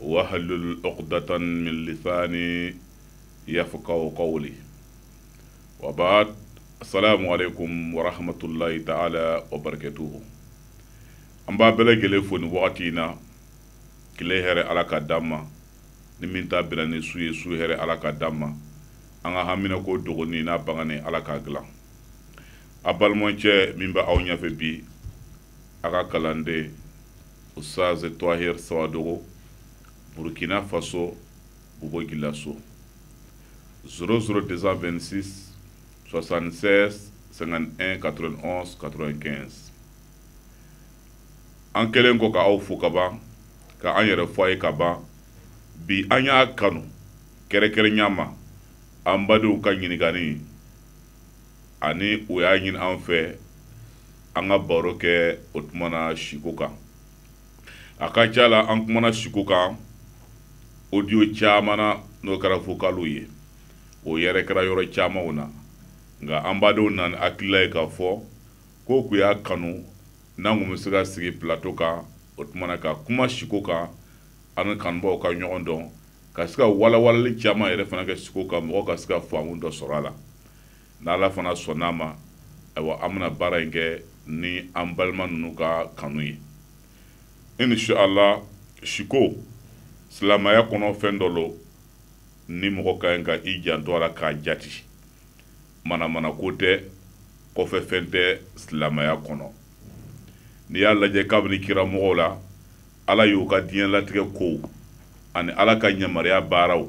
wahlul uqdatan min lisaani yafqahu qawli wa baad asalaamu aleykum wa rahmatullahi taala wa barakatuhu an b'aw bɛɛ lajɛlen fo nin wagati in na tile hɛrɛ ala ka d'an ma ni min ta bɛnna ni su ye su hɛrɛ ala ka d'an ma an ka haminako dogonin n'a bangenen ala k'a dilan a balimacɛ min bɛ aw ɲɛfɛ bi a ka kalanden ustaz twahir sawadogo burkina faso bobo dioulasso 00 226 76 51 91 95 an kɛlen kɔ ka aw fo ka ban ka an yɛrɛ fɔ a ye ka ban bi an y'a kanu kɛrɛkɛrɛnya ma an badenw ka ɲininkali ani o y'a ɲini an fɛ an ka baro kɛ o tumana siko kan a ka ca la an kumana siko kan audio caman na n'o kɛra vocaliw ye o yɛrɛkɛra yɔrɔ camanw na nka an badenw nana ni hakilila ye k'a fɔ ko k'u y'a kanu n'an kun bɛ se ka sigi plateau kan o tumana ka kuma siko kan an ni kanubaaw ka ɲɔgɔn dɔn ka se ka walawalali caman yɛrɛ fana kɛ siko kan mɔgɔ ka se ka faamu dɔ sɔrɔ a la n'ala fana sɔnna a ma ayiwa an bɛna baara in kɛ ni an balima ninnu ka kanu ye inshallah siko silamaya kɔnɔ fɛn dɔ lo ni mɔgɔ ka ɲi ka i janto a la k'a jati manamanako tɛ kɔfɛ fɛn tɛ silamaya kɔnɔ n'i y'a lajɛ kabini kira mɔgɔw la ala y'u ka diɲɛlatigɛ kow ani ala ka yamaruya baaraw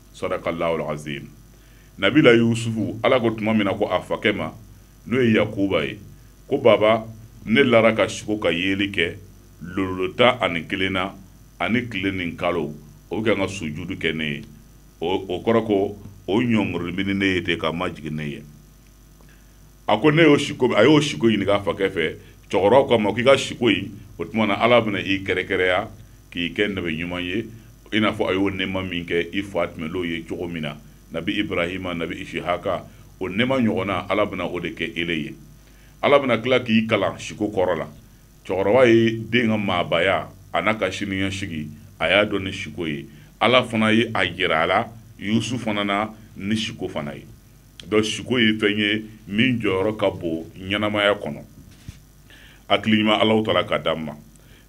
sadakallahul azim nabila yusufu ala ko tuma min na ko a fakɛ ma n'o ye yakuba ye ko baba ne lara ka siko ka yeeli kɛ lolo tan ani kelen na ani tile ni kalo o bɛ kan ka sujudu kɛ ne ye o kɔrɔ ko o ɲɔngirinin ne ye ten ka majigin ne ye a ko ne y'o siko a y'o siko ɲininka a fakɛ fɛ cɛkɔrɔba ko a ma k'i ka siko in o tuma na ala bɛna i kɛrɛkɛrɛya k'i kɛ nabi ɲuman ye i n'a fɔ a y'o nɛɛma min kɛ i fa tɛmɛnlenw ye cogo min na nabi ibrahima nabi isihaka o nɛɛma ɲɔgɔnna ala bɛna o de kɛ ele ye ala bɛna tila k'i kalan siko kɔrɔ la cɛkɔrɔba ye den ka maabaya an'a ka siniɲɛsigi a y'a dɔn ni siko ye ala fana ye a jira a la yusuf fana na ni siko fana ye donc siko ye fɛn ye min jɔyɔrɔ ka bon ɲɛnamaya kɔnɔ hakili ɲuman allahu taala ka d'an ma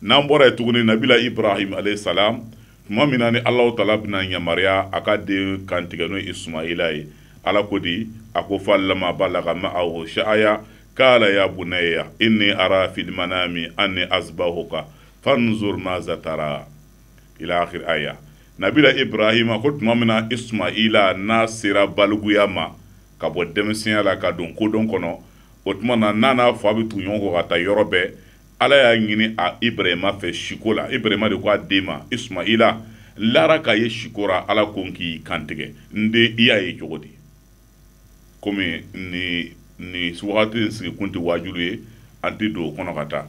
n'an bɔra yen tuguni nabila ibrahim alayhi salam tuma min na ni allahu taala bɛna yamaruya a ka den kantigɛ n'o ismaila ye ala ko di a ko falamma balagha ma'ahu sa'aya qala ya bunayya inni ara fil manami anni azbahuka fanzur maza tara ila akhir aya nabila ibrahima ko tuma min na ismaila n'a sera baliguya ma ka bɔ denmisɛnya la ka don kodɔn kɔnɔ o tuma na n'a n'a fa bɛ tugu ɲɔgɔn kɔ ka taa yɔrɔ bɛɛ ala y'a ɲini a ibrahima fɛ siko la ibrahima de ko a den ma ismaila lara k'a ye siko ra ala ko n k'i kan tigɛ n den i y'a ye cogo di komi ni nin wagati in sigikun tɛ waajuli ye an tɛ don o kɔnɔ ka taa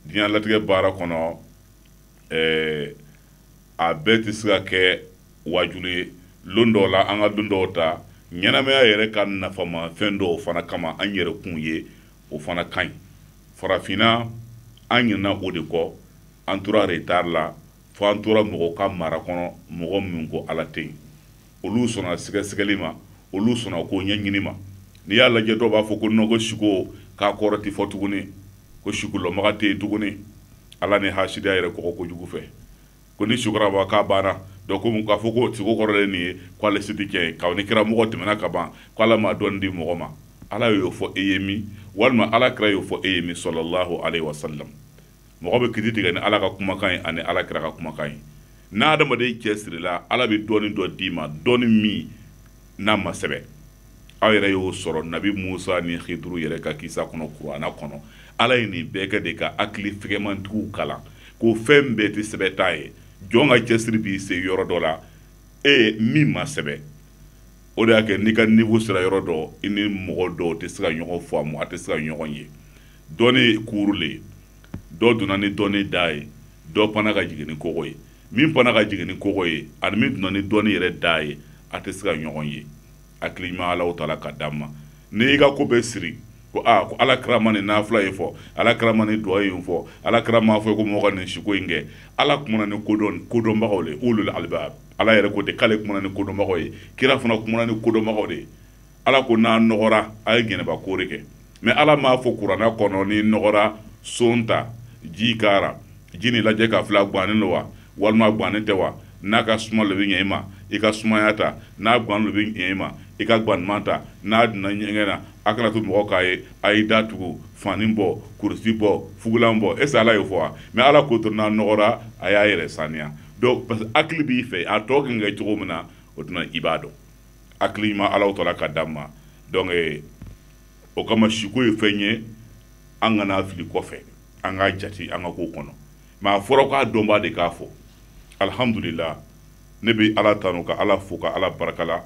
diɲɛ latigɛ baara kɔnɔ ɛɛ a bɛɛ tɛ se ka kɛ waajuli ye lon dɔw la an ka lon dɔw ta ɲɛnamaya yɛrɛ ka nafama fɛn dɔw fana kama an yɛrɛ kun ye o fana ka ɲi farafinna an ɲinana o de kɔ an tora retard la fo an tora mɔgɔ ka mara kɔnɔ mɔgɔ minnu ko ala tɛ yen olu sɔnna sɛgɛsɛgɛli ma olu sɔnna ko ɲɛɲini ma n'i y'a lajɛ dɔw b'a fɔ ko non ko siko k'a kɔrɔ tɛ fɔ tuguni ko sikolɔmaga tɛ yen tuguni ala ni hasidiya yɛrɛ kɔgɔ kojugu fɛ ko ni sukaraba k'a banna dɔn komi k'a fɔ ko siko kɔrɔlen nin ye k'ale se tɛ cɛ ye k'aw ni kira mɔgɔ tɛmɛna ka ban ko ala ma dɔn di mɔgɔ ma ala y'o fɔ e ye min walima ala kira y'o fɔ e ye min sɔlɔlahu alayhi wa salam mɔgɔ bɛ kiti tigɛ ni ala ka kumakan ye ani ala kira ka kumakan ye n'adamaden cɛsirila ala bɛ dɔnni dɔ d'i ma dɔnni min n'a ma sɛbɛ aw yɛrɛ y'o sɔrɔ nabi musa ni hiduru yɛrɛ ka kisa kɔnɔ kurana kɔnɔ ala ye nin bɛɛ kɛ de ka hakili fɛgɛmantigiw kalan ko fɛn bɛɛ tɛ sɛbɛ ta ye jɔn ka cɛsiri b'i se yɔrɔ dɔ la e min ma sɛbɛ o de y'a kɛ n'i ka niveau sera yɔrɔ dɔ i ni mɔgɔ dɔw tɛ se ka ɲɔgɔn faamu a tɛ se ka ɲɔgɔn ye dɔnni ye kuuru le ye dɔ donna ni dɔnni da ye dɔ panna ka jigin ni kogo ye min panna ka jigin ni kogo ye ani min donna ni dɔnni yɛrɛ da ye a tɛ se ka ɲɔgɔn ye hakili ɲuman Alahu taala k'a d'an ma n'i y'i ka ko bɛɛ siri ko aa ko ala kira ma nin nafila in fɔ ala kira ma nin duwawu in fɔ ala kira m'a fɔ ko mɔgɔ ka nin siko in kɛ ala kumana ni kodɔn kodɔnbagaw le ulul albaab ala yɛrɛ ko ten k'ale kumana ni kodɔnbagaw ye kira fana kumana ni kodɔnbagaw de ye ala ko n'a nɔgɔra a ye janaba koli kɛ mais ala m'a fɔ kurana kɔnɔ n'i nɔgɔra seau ta ji k'a ra ji nin lajɛ k'a filɛ gannen don wa walima gannen tɛ wa n'a ka suma lo bɛ ɲɛ i ma i ka sumaya ta n'a gan lo bɛ ɲɛ i ma i ka ganman ta n'a donna ɲɛgɛn na a kana to mɔgɔ k'a ye a ye da tugu fani bɔ kurusi bɔ fugulan bɔ est-ce ala y'o fɔ wa mais ala ko to n'a nɔgɔra a y'a yɛrɛ saniya parce que hakili b'i fɛ a tɔ kɛ cogo min na o tuma i b'a dɔn hakili ɲuman alaw tɔla ka d'an ma donc eh, o kama siko ye fɛn ye an kan'a fili kɔfɛ an k'a jati an ka ko kɔnɔ mais a fɔra k'a dɔnbaa de k'a fɔ alhamdulila ne bɛ ala tanu ka ala fo ka ala baraka la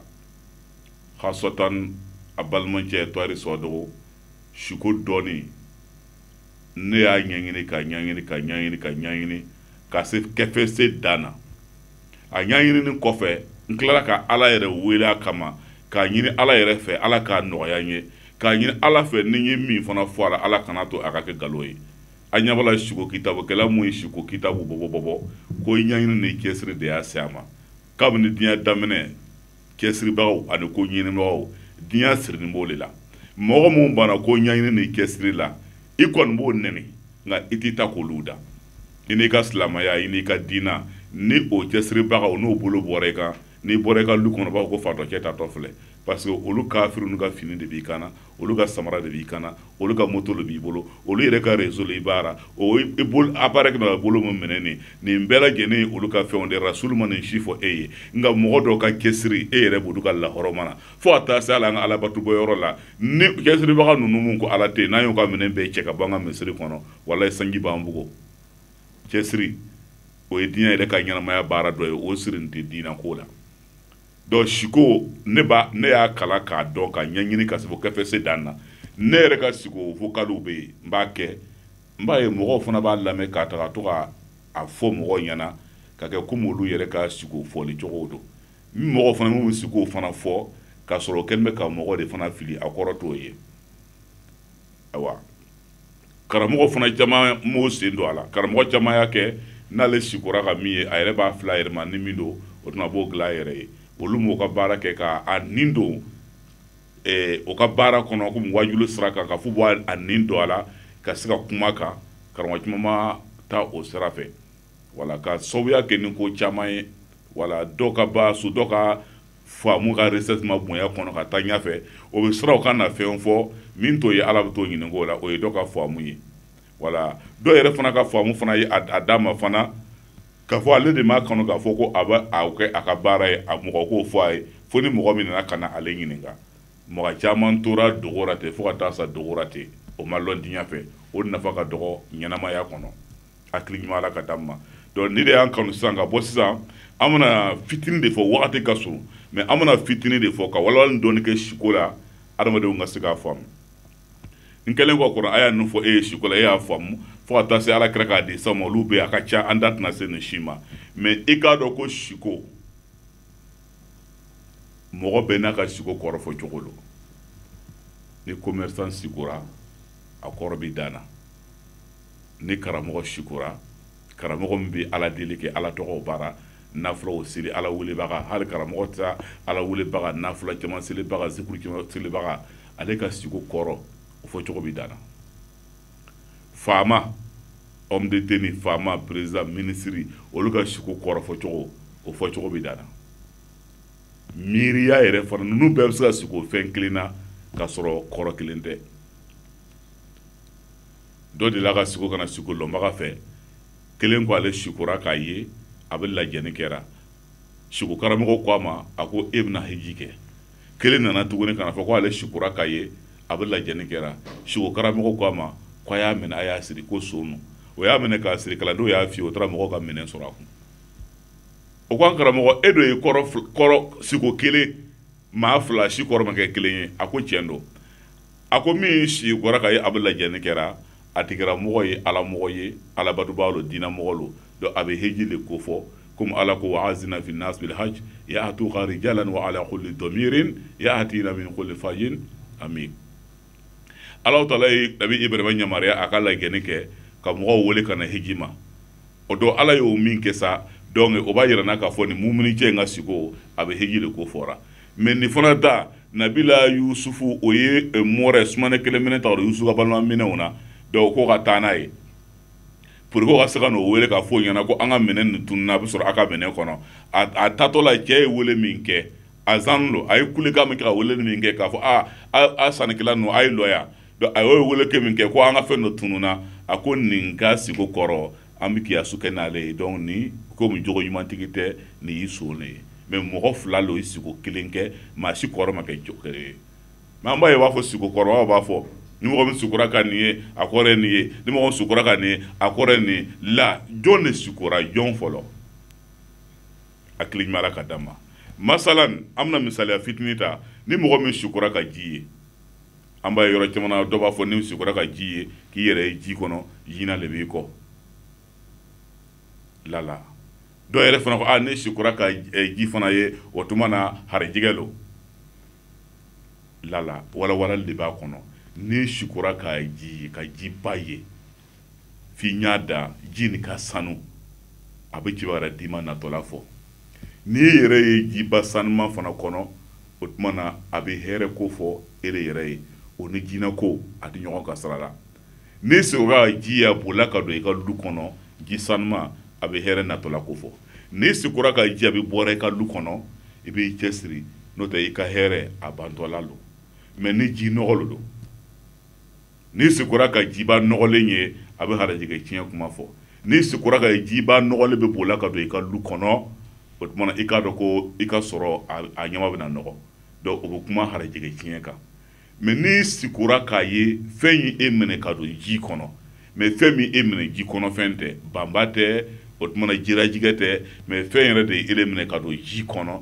hasɔtan a balimacɛ tɔri sɔdogo siko dɔnni ne y'a ɲɛɲini ka ɲɛɲini ka ɲɛɲini ka ɲɛɲini ka se kɛ fo se dan na a ɲaɲinini kɔfɛ n tilara ka ala yɛrɛ wele a kama k'a ɲini ala yɛrɛ fɛ ala k'a nɔgɔya n ye k'a ɲini ala fɛ ni n ye min fana fɔ a la ala kana to a ka kɛ galo ye a ɲa b'a la siko kitabu kɛla mun ye siko kitabu bɔbɔ bɔbɔ ko i ɲaɲini ni cɛsiri de y'a se a ma kabini diɲɛ daminɛ cɛsiribagaw ani ko ɲinibagaw diɲɛ sirinin b'o de la mɔgɔ minnu banna ko ɲɛɲini ni cɛsiri la i kɔni b'o nɛni nka i ti taa k'olu dan i n'i ka silamaya i n'i ka diina ni o cɛsiribagaw n'o bolo bɔra i kan n'i bɔra i ka lu kɔnɔ b'a ko fatɔcɛ taatɔ filɛ parce que olu kafiriw ninnu ka fini de b'i kan na olu ka samara de b'i kan na olu ka moto de b'i bolo olu yɛrɛ ka réseau i baara a baarakɛminɛn bolo min minɛ nin nin bɛɛ lajɛlen olu ka fɛnw de sulu ma nin si fɔ e ye nka mɔgɔ dɔw ka cɛsiri e yɛrɛ b'o lɔn ka lahɔrɔ mana fɔ a taa seli la an ka alabatu bɔ yɔrɔ la ni cɛsiribaga ninnu ko ala tɛ n'a y'u ka minɛn bɛɛ cɛ ka b'an ka misiri kɔnɔ walayi sanji b'an bugɔ cɛsiri o ye diɲɛ yɛrɛ ka ɲɛnamaya baara dɔ ye o siri tɛ diinako la donc siko ne b'a ne y'a kalan k'a dɔn ka ɲɛɲini ka se kɛ fo se dan na ne yɛrɛ ka siko vocalw bɛ yen n b'a kɛ n b'a ye mɔgɔw fana b'a lamɛn ka taga to ka a fɔ mɔgɔw ɲɛna ka kɛ komi olu yɛrɛ ka siko fɔli cogo don ni mɔgɔ fana minnu siko fana fɔ ka sɔrɔ kɛlen bɛ ka mɔgɔ de fana fili a kɔrɔ t'o ye ayiwa karamɔgɔ fana caman m'o sen don a la karamɔgɔ caman y'a kɛ n'ale sikora ka min ye a yɛrɛ b'a filɛ a yɛrɛ ma ni min don o tuma b'o dilan a yɛrɛ ye olu m'u ka baara kɛ ka a nin don eh, o ka baara kɔnɔ komi wajuli sira kan ka f'u b'a a nin don a la ka se ka kuma kan karamɔgɔ caman ma taa o sira fɛ wala ka sababuya kɛ ni ko caman ye wala dɔ ka ba so dɔ ka faamu ka recherche ma bonya a kɔnɔ ka taa ɲɛfɛ o bɛ siran o kana fɛn fɔ min t'o ye ala bɛ t'o ɲininka o la o ye dɔ ka faamu ye wala dɔw yɛrɛ fana ka faamu fana ye a d'a ma fana k'a fɔ ale de m'a kanu k'a fɔ ko a bɛ a kɛ a ka baara ye a mɔgɔ k'o fɔ a ye fo ni mɔgɔ min nana ka na ale ɲininka mɔgɔ caman tora dogo la ten fo ka taa sa dogo la ten o ma lɔn diɲɛ fɛ o nafa ka dɔgɔ ɲɛnamaya kɔnɔ hakili ɲuman ala ka d'an ma donc ni de y'an kanu sisan ka bɔ sisan an bɛna fitini de fɔ wagati ka surun mais an bɛna fitini de fɔ ka walawalali dɔɔni kɛ siko la adamadenw ka se k'a faamu n kɛlen kɔ kɔrɔ a y'a ninnu fɔ e ye siko la e y'a faamu fo ka taa se ala kira ka hadisa ma olu bɛ a ka ca an da tɛna se nin si ma mais i k'a dɔn ko siko mɔgɔ bɛɛ n'a ka siko kɔrɔ fɔ cogo don ni commerçant sikora a kɔrɔ bɛ dan na ni karamɔgɔ sikora karamɔgɔ min bɛ ala deli kɛ ala tɔgɔ baara nafilaw seli ala welebaga hali karamɔgɔ tɛ ala welebaga nafila caman selibaga selibaga ale ka siko kɔrɔ o fɔ cogo bɛ dan na faama homme de tenue faama président minisiri olu ka siko kɔrɔ fɔ cogo o fɔ cogo bɛ dan na miiriya yɛrɛ fana ninnu bɛɛ bɛ se ka siko fɛn kelen na ka sɔrɔ kɔrɔ kelen tɛ dɔ delila ka siko ka na siko lɔnbaga fɛ kelen ko ale sikora k'a ye a bɛ lajɛni kɛra siko karamɔgɔ ko a ma a ko e bɛna hiji kɛ kelen nana tuguni ka n'a fɔ ko ale sikora k'a ye a bɛ lajɛni kɛra siko karamɔgɔ ko a ma ko a y'a minɛ a y'a siri ko son lo o y'a minɛ k'a siri kalandenw y'a fouillé o taara mɔgɔw ka minɛn sɔrɔ a kun o ko an karamɔgɔ e dɔ ye kɔrɔ siko kelen maa fila si kɔrɔ ma kɛ kelen ye a ko tiɲɛ don a ko min sikora k'a ye a bɛ lajɛni kɛra a tigi kɛra mɔgɔ ye ala mɔgɔ ye alabatobaa lo diinɛ mɔgɔ lo donc a bɛ heji le ko fɔ comme ala ko wa azina fi nas bil haj ya atuka rijalan wa ala kulli damirin ya atina min kulli fajin amin ala taala ye nabi ibrahima yamaruya a ka lajɛni kɛ ka mɔgɔw wele ka na heji ma o don ala y'o min kɛ sa donc o b'a yira an na k'a fɔ nin mumuni cɛ in ka siko a bɛ heji le ko fɔra mais nin fana ta nabila yusufu o ye eh, mɔrɛ sumanikɛlan minɛn ta o yusufu ka balima minɛnw na dɔw ko ka taa n'a ye pourquoi ka se ka n'o wele k'a fɔ o ɲɛ na ko an ka minɛn nin tununa a bɛ sɔrɔ a ka minɛn kɔnɔ a tatɔ la cɛ ye wele min kɛ azan lo a ye kulekan min kɛ ka wele min kɛ k'a fɔ a a sannikɛla ninnu a ye lɔ yan a y'o wele kɛ min kɛ ko an ka fɛn dɔ tununa a ko nin ka siko kɔrɔ an bɛ kiyasu kɛ n'ale ye donc nin comme jogo ɲumantigi tɛ nin ye son le ye mais mɔgɔ fila don i siko kelen kɛ maa si kɔrɔ ma kɛ jɔ ye mais an b'a ye b'a fɔ siko kɔrɔ b'a fɔ ni mɔgɔ min sikora ka nin ye a kɔrɔ nin ye ni mɔgɔ sikora ka nin a kɔrɔ nin la jɔn de sikora jɔn fɔlɔ a hakili ka da ma masalan an bɛna misali fitinin ta ni mɔgɔ min sikora ka ji ye an b'a yɔrɔ caman na dɔ b'a fɔ n'i sikora ka ji ye k'i yɛrɛ ye ji kɔnɔ jina le b'i kɔ lala dɔw yɛrɛ fana ko a n'e sikora ka eh, ji fana ye o tuma na harijigɛ lo lala walawalali de b'a kɔnɔ n'e sikora ka ji ye ka jiba ye f'i ɲɛ da ji nin ka sanu a bɛ kibaru diman natɔla fɔ n'i yɛrɛ ye jiba sanuma fana kɔnɔ o tuma na a bɛ hɛrɛ ko fɔ e de yɛrɛ ye o ni jinɛ ko a tɛ ɲɔgɔn ka sira la n'i sikora ka ji y'a bolila ka don i ka du kɔnɔ ji sanuma a bɛ hɛrɛ natɔla ko fɔ n'i sikora ka ji y'a bɛ bɔra i ka du kɔnɔ i b'i cɛ siri n'o tɛ i ka hɛrɛ a bantɔla don mɛ ni ji nɔgɔlen don n'i sikora ka jiba nɔgɔlen ye a bɛ harajɛgɛ tiɲɛ kuma fɔ n'i sikora ka jiba nɔgɔlen bɛ boli ka don i ka du kɔnɔ o tuma i k'a dɔn ko i ka sɔrɔ a ɲama bɛ na nɔgɔ don o bɛ kuma harajɛgɛ tiɲɛ kan mɛ n'i sikora k'a ye fɛn y'i minɛ ka don ji kɔnɔ mɛ fɛn min y'i minɛ ji kɔnɔfɛn tɛ banba tɛ o tuma na jirajɛgɛ tɛ mɛ fɛn wɛrɛ de y'e minɛ ka don ji kɔnɔ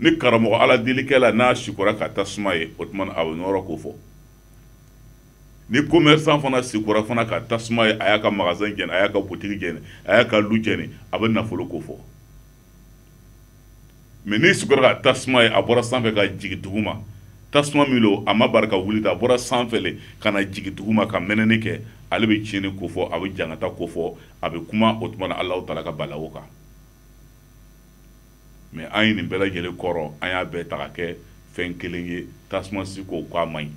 ni karamɔgɔ aladelikɛla n'a sikora ka tasuma ye o tuma a bɛ nɔɔrɔ ko fɔ ni komɛrisan fana sikora fana ka tasuma ye a y'a ka magasɛn jɛni a y'a ka butigi jɛni a y'a ka lu jɛni a bɛ nafolo ko fɔ mɛ n'i sikora ka tasuma ye a bɔra sanfɛ ka jigin dugu ma tasuma min don a ma bari ka wuli a bɔra sanfɛ le ka na jigin dugu ma ka mɛnɛni kɛ ale bɛ tiɲɛni ko fɔ a bɛ jangata ko fɔ a bɛ kuma o tuma na ala taala ka balawu kan mɛ an ye nin bɛɛ lajɛlen kɔrɔ an y'a bɛɛ ta ka kɛ fɛn kelen ye tasuma siko k'a man ɲi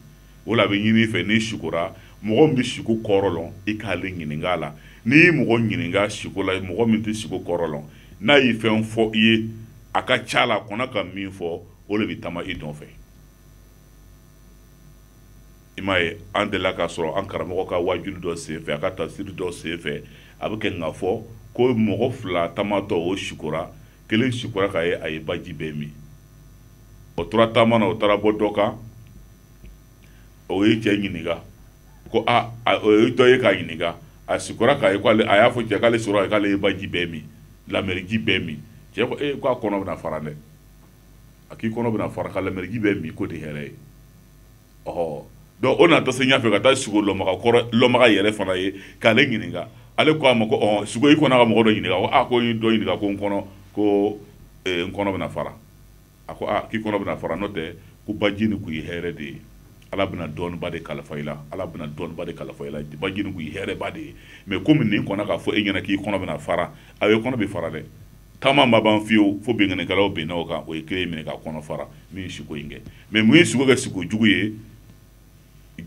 o la a bɛ ɲini i fɛ n'i sikora mɔgɔ min bɛ siko kɔrɔ lɔn i k'ale ɲininka la n'i ye mɔgɔ ɲininka siko la mɔgɔ min tɛ siko kɔrɔ lɔn n'a ye fɛn fɔ i ye a ka ca la a kɔnna ka min fɔ o de bɛ taama i nɔfɛ i m'a ye an delila k'a sɔrɔ an karamɔgɔ ka waajuli dɔ senfɛ a ka tasiri dɔ senfɛ a bɛ kɛ k'a fɔ ko mɔgɔ fila taamatɔ o sikora kelen sikora k'a ye a ye baji bɛɛ min o tora taama na o taara bɔ dɔ kan o ye cɛ ɲininka ko a o ye dɔ ye k'a ɲininka a sikora k'a ye k'ale a y'a fɔ cɛ k'ale sikora k'ale ye baji bɛɛ min lameriji bɛɛ min cɛ ko ee k'a kɔnɔ bɛna fara dɛ a k'i kɔnɔ bɛna fara ka lameriji bɛɛ min ko de hɛrɛ ye dɔnku o na taa se ɲɛ fɛ ka taa siko lɔnbaa kɔrɔlɔnbaa yɛrɛ fana ye k'ale ɲininka ale ko a ma ko siko i kɔnna ka mɔgɔ dɔ ɲininka a ko dɔ ɲininka ko n kɔnɔ ko n kɔnɔ bɛna fara a ko k'i kɔnɔ bɛna fara n'o tɛ ko baji ni k'i hɛrɛ de ye ala bɛna dɔnniba de kalifa i la ala bɛna dɔnniba de kalifa i la baji k'i hɛrɛba de ye mɛ ko min kɔnna k'a fɔ e ɲɛna k'i kɔnɔ bɛna fara a ye kɔnɔ bɛ fara dɛ taama ma ban fiyewu fo binkannikɛlaw binna o kan o ye kelen minɛ k'a kɔnɔ fara min ye siko in kɛ mɛ mun ye siko kɛ siko jugu ye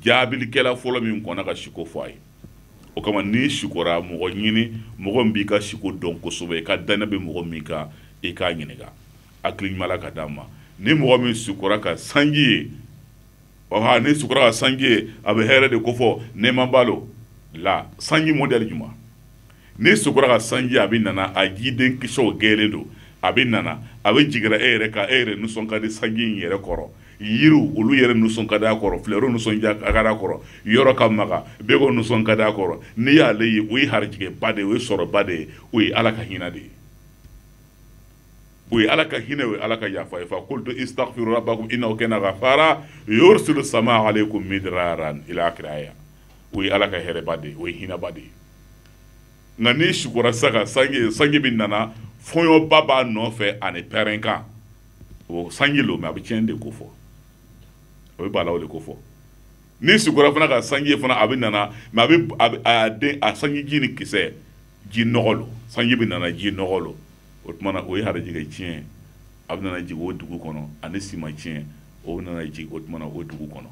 jaabilikɛla fɔlɔ min kɔnna ka siko fɔ a ye o kama n'i sikora mɔgɔ ɲini mɔgɔ min b'i ka siko dɔn kosɛbɛ i ka dannaya bɛ mɔgɔ min kan i k'a ɲininka hakili ɲuman ala k'a d'an ma ni mɔgɔ min sikora ka sanji ye ɔha n'i sikora ka sanji ye a bɛ hɛrɛ de kofɔ nɛɛma b'a lo la sanji modɛli jumɛn n'i sukora ka sanji a bɛ nana a jiden kisɛw gɛɛlen don a bɛ nana a bɛ jigira e yɛrɛ kan e yɛrɛ nisɔn ka di sanji in yɛrɛ kɔrɔ yiriw olu yɛrɛ nisɔn ka di a kɔrɔ filɛriw nisɔn ka a kɔrɔ yɔrɔ ka maga bɛɛ ko nisɔn ka di a kɔrɔ n'i y'ale ye o ye harijɛba de ye o ye sɔrɔba de ye o ye ala ka hinɛ de ye o ye ala ka hinɛ o ye ala ka yafa fakultu istagfiru rabakum inahu kana gafara yurisili sama alayikum midirara kira yan o ye ala ka hɛrɛba de ye o ye hinɛba de ye nka n'i sukora sisan ka sanji sanji min nana fɔɲɔba b'a nɔfɛ ani pɛrɛnkan o sanji lo mɛ a bɛ tiɲɛ de kofɔ o bɛ balawu de kofɔ n'i sukora fana ka sanji fana a bɛ nana mɛ a bɛ a bɛ- a den a sanji jiden kisɛ ji nɔgɔ lo sanji bɛ nana ji nɔgɔ lo o tuma na o ye harijɛgɛ tiɲɛ ye a bɛ nana jigin o dugu kɔnɔ ani siman tiɲɛ o bɛ nana jigin o tuma na o dugu kɔnɔ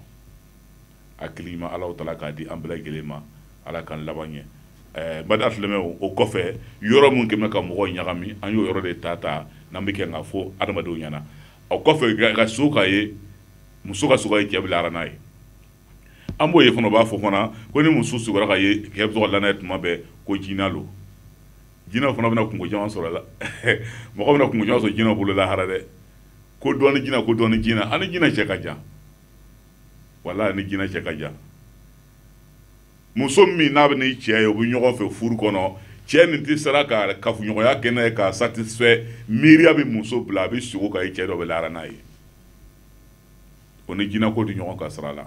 hakili ɲuman ala taala k'a di an bɛɛ lajɛlen ma ala k'an laban ɲɛ ba filɛmɛ o kɔfɛ yɔrɔ minnu kɛmɛ ka mɔgɔ ɲagami an y'o yɔrɔ de ta ta n'an bɛ kɛ k'a fɔ adamadenw ɲɛna o kɔfɛ ka sugo k'a ye muso ka sugo ye cɛ bɛ lara n'a ye an b'o ye fana b'a fɔ fana ko ni muso sugo k'a ye kɛ la tuma bɛɛ ko jinɛ don jinɛ fana bɛna kunko caman sɔrɔ la mɔgɔ bɛna kunko sɔrɔ jinɛ bolo lahara dɛ ko dɔn jinɛ ko dɔn jinɛ a ni jinɛ cɛ ka jan wala a ni jinɛ cɛ ka jan muso min n'a bɛ n'i cɛ ye u bɛ ɲɔgɔn fɛ furu kɔnɔ cɛ nin tɛ sera ka kafoɲɔgɔnya kɛ n'a ye k'a satisfait miiriya bɛ muso bila a bɛ sugo k'a ye cɛ dɔ bɛ lara n'a ye o ni jinɛ ko tɛ ɲɔgɔn ka sira la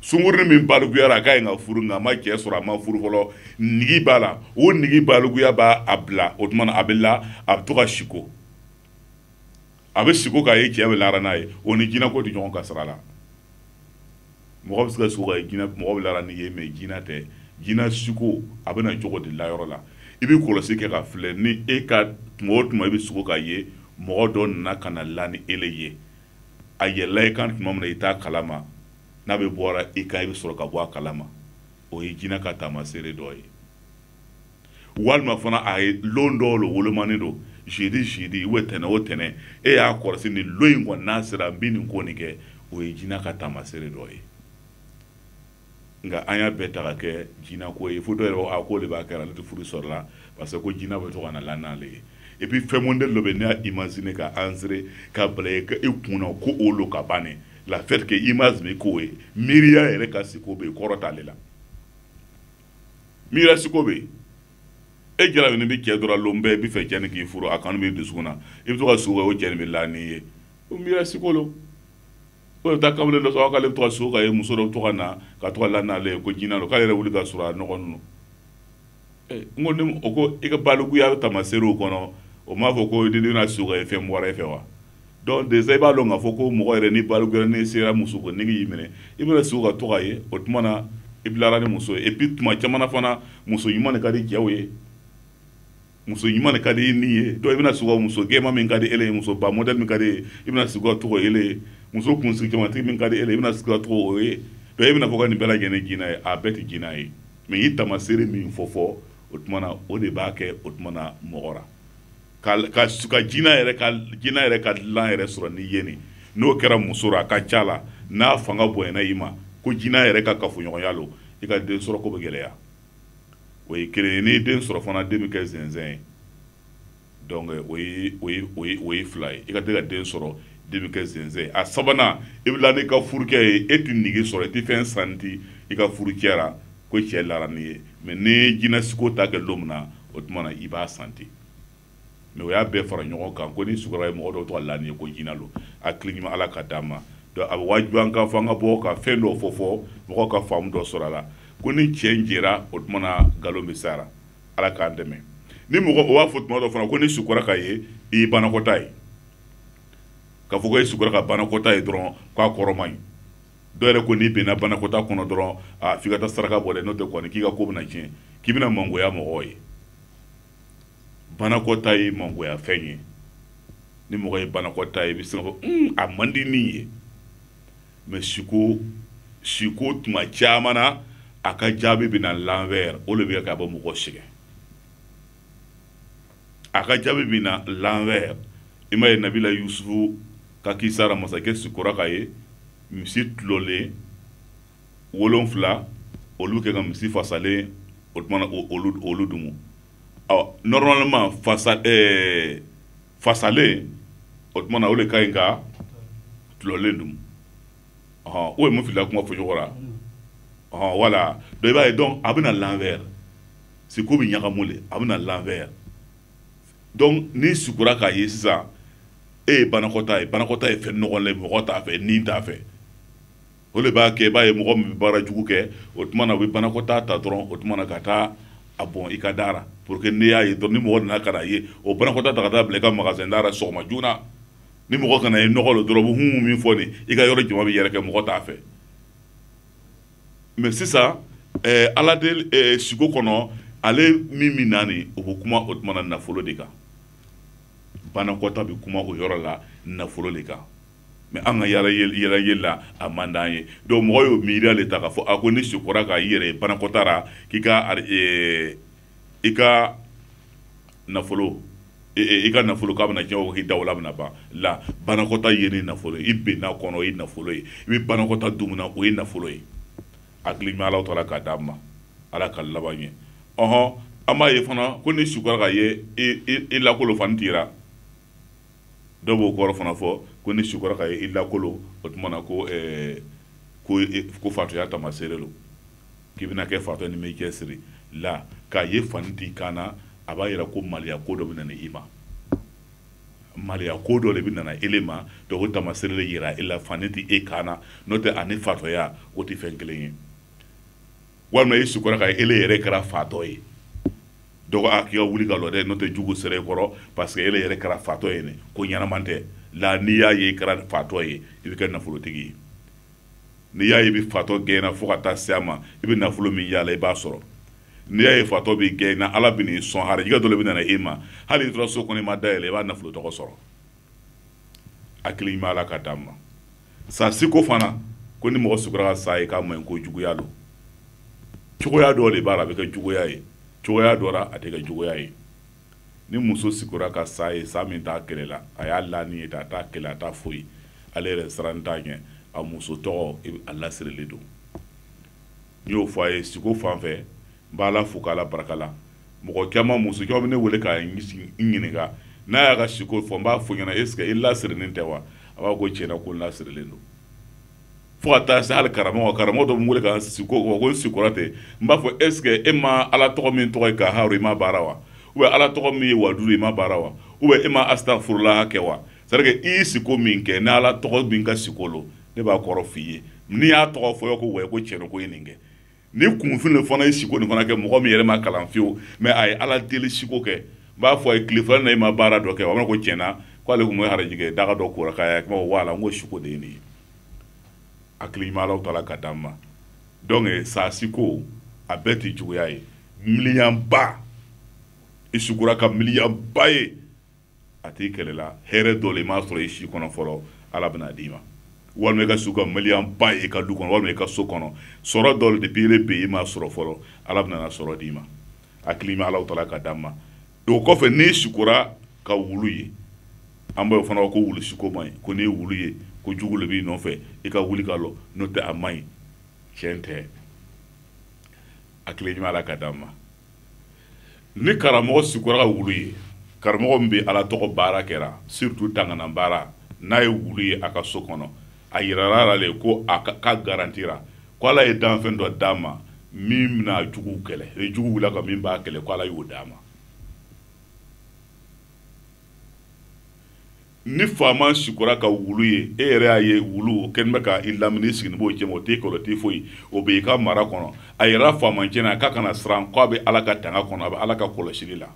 sungurunnin min baluguyara a ka ɲi ka furu nka a ma cɛ sɔrɔ a ma furu fɔlɔ nigi b'a la o nigi baluguya b'a a bila o tuma na a bɛ la a bɛ to ka siko a bɛ siko k'a ye cɛ bɛ lara n'a ye o ni jinɛ ko tɛ ɲɔgɔn ka sira la mɔgɔ bɛ se ka siko k'a ye jinɛ mɔgɔ bɛ lara n'i ye mɛ jinɛ tɛ jinɛ siko a bɛ na cogo de la yɔrɔ la i bɛ kɔlɔsi kɛ k'a filɛ ni e ka tuma o tuma i bɛ siko k'a ye mɔgɔ dɔ nana ka na la ni ele ye a yɛlɛla i kan tuma min na i t'a kalama n'a bɛ bɔra i kan i bɛ sɔrɔ ka bɔ a kalama o ye jinɛ ka taamaseere dɔ ye walima fana a ye lon dɔw lo wolomanin don jeudi jeudi ou tɛnɛ o tɛnɛ e y'a kɔlɔsi ni lon in kɔni n'a sera n bi nin ko nin kɛ o ye jinɛ ka taamasere dɔ ye nka an y'a bɛɛ ta ka kɛ jinɛ ko ye fo dɔ yɛrɛ a ko de b'a kɛra ale tɛ furu sɔrɔla parce que ko jinɛ bɛ to ka na la n'ale ye et puis fɛn modèle dɔ bɛ ne y'a imaginer k'a insérer ka bila i kun na ko o lo ka bannen l'a fait que image bɛ k'o ye miiriya yɛrɛ ka siko bɛ kɔrɔ t'ale la miiriya siko bɛ yen e jarabinin bɛ cɛ dɔ ra lon bɛɛ i b'a fɛ cɛ nin k'i furu a kanu b'i dusukun na i bɛ to ka sugo cɛ bɛ la n'i ye o miiriya siko don o bɛ taa kamalen dɔ sɔrɔ k'ale to ka sugo ka ye muso dɔ to ka na ka to la n'ale ye ko jina don k'ale yɛrɛ wuli ka sɔrɔ a nɔgɔnin lo n ko ni o ko i ka balikuya bɛ taamasere kɔnɔ o m'a fɔ ko i tɛna sugo ka ye fɛn bɔra e fɛ wa donc déjà i b'a dɔn k'a fɔ ko mɔgɔ yɛrɛ ni balikuya nin sera muso ko nege y'i minɛ i bɛna sugo ka to k'o ye o tuma na i bɛ lara ni muso ye et puis tuma caman fana muso ɲuman de ka di jaw ye muso ɲuman de ka di min ye donc i bɛna s muso gwɛman min ka di e ye muso ba mɔd min ka ye i bɛna sugo ka to k'o ye muso kunsigi camanba tigi min ka di e i bɛna s to k'o ye donc e bɛna fɔ ka nin bɛɛ lajɛlen jina ye a bɛɛ tɛ jina ye mais n ye taamaseere min fɔ fɔ o tuma na o de b'a kɛ o tuma na mɔgɔ la ka ka ka jina yɛrɛ ka jina yɛrɛ ka dilan yɛrɛ sɔrɔ n'i ye nin n'o kɛra muso la a ka ca la n'a fanga bonyana i ma ko jina yɛrɛ ka kafoɲɔgɔnya lo i ka den sɔrɔ ko bɛ gɛlɛya o ye kelen ye n'i den sɔrɔ fana den bɛ kɛ zinzin ye donc o ye o ye o ye o ye fila ye i ka tɛ ka den sɔrɔ den bɛ kɛ zinzin ye a sabanan i bɛ la n'i ka furucɛ ye e tɛ nege sɔrɔ i tɛ fɛn sentir i ka furucɛ ra ko cɛ lara n'i ye mais ni jinɛ siko ta kɛ don min na o tuma na i b'a sentir mais u y'a bɛɛ fara ɲɔgɔn kan ko n'i sugo ye mɔgɔ dɔ to ka la n'i ye ko jina don a tile ɲuman ala ka d'an ma a bɛ waju an ka fɔ an ka bɔ ka fɛn dɔ fɔ fɔ mɔgɔ ka faamu dɔ sɔrɔ a la ko ni cɛn jɛra o tuma na nkalon bɛ sara ala k'an dɛmɛ ni mɔgɔw b'a fɔ tuma dɔ fana ko n'i sugo ka ye i banakɔta ye ka fɔ e sugo ka banakɔta ye dɔrɔn k'a kɔrɔ man ɲi dɔw yɛrɛ ko n'i binna banakɔta kɔnɔ dɔrɔn a' ka taa saraka bɔ n'o tɛ k'i ka ko bɛna cɛn k'i bɛna mangoya mɔgɔ ye banakɔta ye mangoyafɛn ye ni mɔgɔ ye banakɔta ye i bɛ se k'a fɔ hmm, a man di ne ye mais siko siko tuma caman na a ka jaabi bɛ na l'envers o de b'a kɛ a bɛ mɔgɔ sɛgɛn a ka jaabi bɛ na l'envers i m'a ye nabila yusufu ka kisa ra masakɛ sikora ka ye misi tɔlɔlen wolonfila olu kɛ ka misi fasalen o tumana olu dumu ɔ normalement fasa ɛɛ fasalen o tumana o de ka ɲi ka tulɔlen dumu ɔhɔn o ye mun filila kuma fɔcogo la ɔhɔn voilà donc i b'a ye donc a bɛ na l'envers siko bɛ ɲagamu le a bɛ na l'envers donc n'i sukora k'a ye sisan e ye banakɔta ye banakɔta ye fɛn nɔgɔlen mɔgɔ t'a fɛ ni t'a fɛ o de b'a kɛ i b'a ye mɔgɔ min bɛ baara jugu kɛ o tuma na u bɛ banakɔtaa ta dɔrɔn o tuma na ka taa a bɔn i ka da la pour que n'i y'a ye dɔrɔn ni mɔgɔ nana ka na ye o banakɔtaa ta ka taa bila i ka magasin da la sɔgɔma joona ni mɔgɔ kana ye nɔgɔ don dɔrɔn hun min fɔ nin i ka yɔrɔ jama bɛ yɛrɛkɛ mɔgɔ t'a fɛ mais sisan eh, ala de eh, siko kɔnɔ ale min min naani o bɛ kuma o tuma na nafolo de kan banakɔta bɛ kuma o yɔrɔ la nafolo de kan mais an ka yala ye la a man d'an ye donc mɔgɔ y'o miiriya de ta k'a fɔ a ko n'i sikora ka i yɛrɛ ye banakɔta ra k'i ka eh, i ka nafolo eh, eh, i ka nafolo k'a bɛna tiɲɛ k'i dawula bɛna ban la banakɔta ye ni nafolo ye i binna a kɔnɔ o ye nafolo ye i bɛ banakɔta dumuna o ye nafolo ye hakili ɲuman ala taala k'a d'an ma ala ka laban ɲɛ ɔhɔn an b'a ye fana ko n'i sikora k'a ye i lakolo fani t'i ra dɔw b'o kɔrɔ fana fɔ ko n'i sukora k'a ye i lakolo o tuma na ko eh, ko eh, ko fatɔya tamaseere lo k'i bɛna kɛ fatɔ n'i m'i cɛsiri la k'a ye fani t'i kan na a b'a yira ko maliya ko dɔ bɛ nana i ma maliya ko dɔ de bɛ nana ele ma donc o tamaseere de yira e la fani tɛ e kan na n'o tɛ ani fatɔya o tɛ fɛn kelen ye walima i sukora k'a ye ele yɛrɛ kɛra fatɔ ye donc a k'i ka wuli ka lɔ dɛ n'o tɛ jugu sera i kɔrɔ parce que ele yɛrɛ kɛra fatɔ ye ne ko ɲɛnama tɛ la n'i y'a ye i kɛra fatɔ ye i bɛ kɛ nafolotigi ye n'i y'a ye i bɛ fatɔ gɛnna fo ka taa se a ma i bɛ nafolo min yaala i b'a sɔrɔ n'i y'a ye fatɔ b'i gɛnna ala bɛn'i sɔn harijɛgɛ dɔ le bɛ nana e ma hali i tora so kɔnɔ i ma da yɛlɛ i b'a nafolo tɔgɔ sɔrɔ hakili ɲuman ala k'a d'an ma sa siko fana ko ni mɔgɔ sikora ka sa ye k'a man ɲi ko juguya don cogoya dɔ de b'a la a bɛ kɛ juguya ye cogoya dɔ la a tɛ kɛ juguya ye ni muso sikora ka sa ye sa min t'a kɛlɛ la a y'a lanin ye a t'a kɛlɛ a t'a foyi ale yɛrɛ sirannen t'a ɲɛ a muso tɔgɔ a lasirilen don n y'o fɔ a ye siko fan fɛ n b'a la fo k'ala barika la mɔgɔ caman muso caman bɛ ne wele ka n ɲininka n'a y'a ka siko fɔ n b'a fɔ a ɲɛna est ce que i lasirilen tɛ wa a b'a fɔ tiɲɛ na ko n lasirilen don fo ka taa se hali karamɔgɔ karamɔgɔ dɔ bɛ n wele ka n siko fɔ ko n sikora ten n b'a fɔ est ce que e ma ala tɔgɔ min tɔgɔ ye kaharu i ma baara wa ou bien ala tɔgɔ min ye wadudu i ma baara wa ou bien e ma asitafurulaha kɛ wa c'est à dire que i ye siko min kɛ ni ala tɔgɔ min ka siko lo ne b'a kɔrɔ f'i ye n'i y'a tɔgɔ fɔ ko wa ko cɛn ko ye nin kɛ ni kunfin fana ye siko nin fana kɛ mɔgɔ min yɛrɛ ma kalan fiyewu mɛ a ye ala deli siko kɛ b'a fɔ a ye tile fila na i ma baara dɔ kɛ a ko tiɲɛ na k'ale tun bɛ arajɛ daga dɔ kora k'a kuma wa la n ko siko de ye nin ye hakili ala ka d'an ma dɔnke sa siko a bɛɛ tɛ juguya ye miniyanba i sikora ka miniyanba ye a t'i kɛlɛla hɛrɛ dɔ le i m'a sɔrɔ i si kɔnɔ fɔlɔ ala bɛna d'i ma walima i ka siko ka miniyanba ye i ka du kɔnɔ walima i ka so kɔnɔ sɔrɔ dɔ de biire be i m'a sɔrɔ fɔlɔ ala bɛna sɔrɔ d'i ma a hakili ɲuman alahu tala ka d'an ma o kɔfɛ n'i sikora ka wulu ye an b'o fana ko wulu siko man ɲi ko n'i ye wulu ye ko jugu le b'i nɔfɛ i ka wuli ka lɔ n'o tɛ a man ɲi tiɲɛ tɛ a hakili ɲuman ala ka d'an ma ni karamɔgɔ sikora ka wulu ye karamɔgɔ min bɛ ala tɔgɔ baara kɛra siritu tangana baara n'a ye wulu ye a ka so kɔnɔ a yirara a la le ko a ka garantira ko ala ye danfɛn dɔ d'a ma min bɛna juguw kɛlɛ e jugu wulila a kan min b'a kɛlɛ ko ala y'o d'a ma ni faama sikora ka wulu ye e yɛrɛ y'a ye wuluw kɛlen bɛ ka i lamini i siginin b'o cɛma o t'i kɛlɛ o t'i foyi o bɛ i ka mara kɔnɔ a yira faamacɛ na k'a kana siran ko a bɛ ala ka tanga kɔnɔ a bɛ ala ka kɔlɔsili la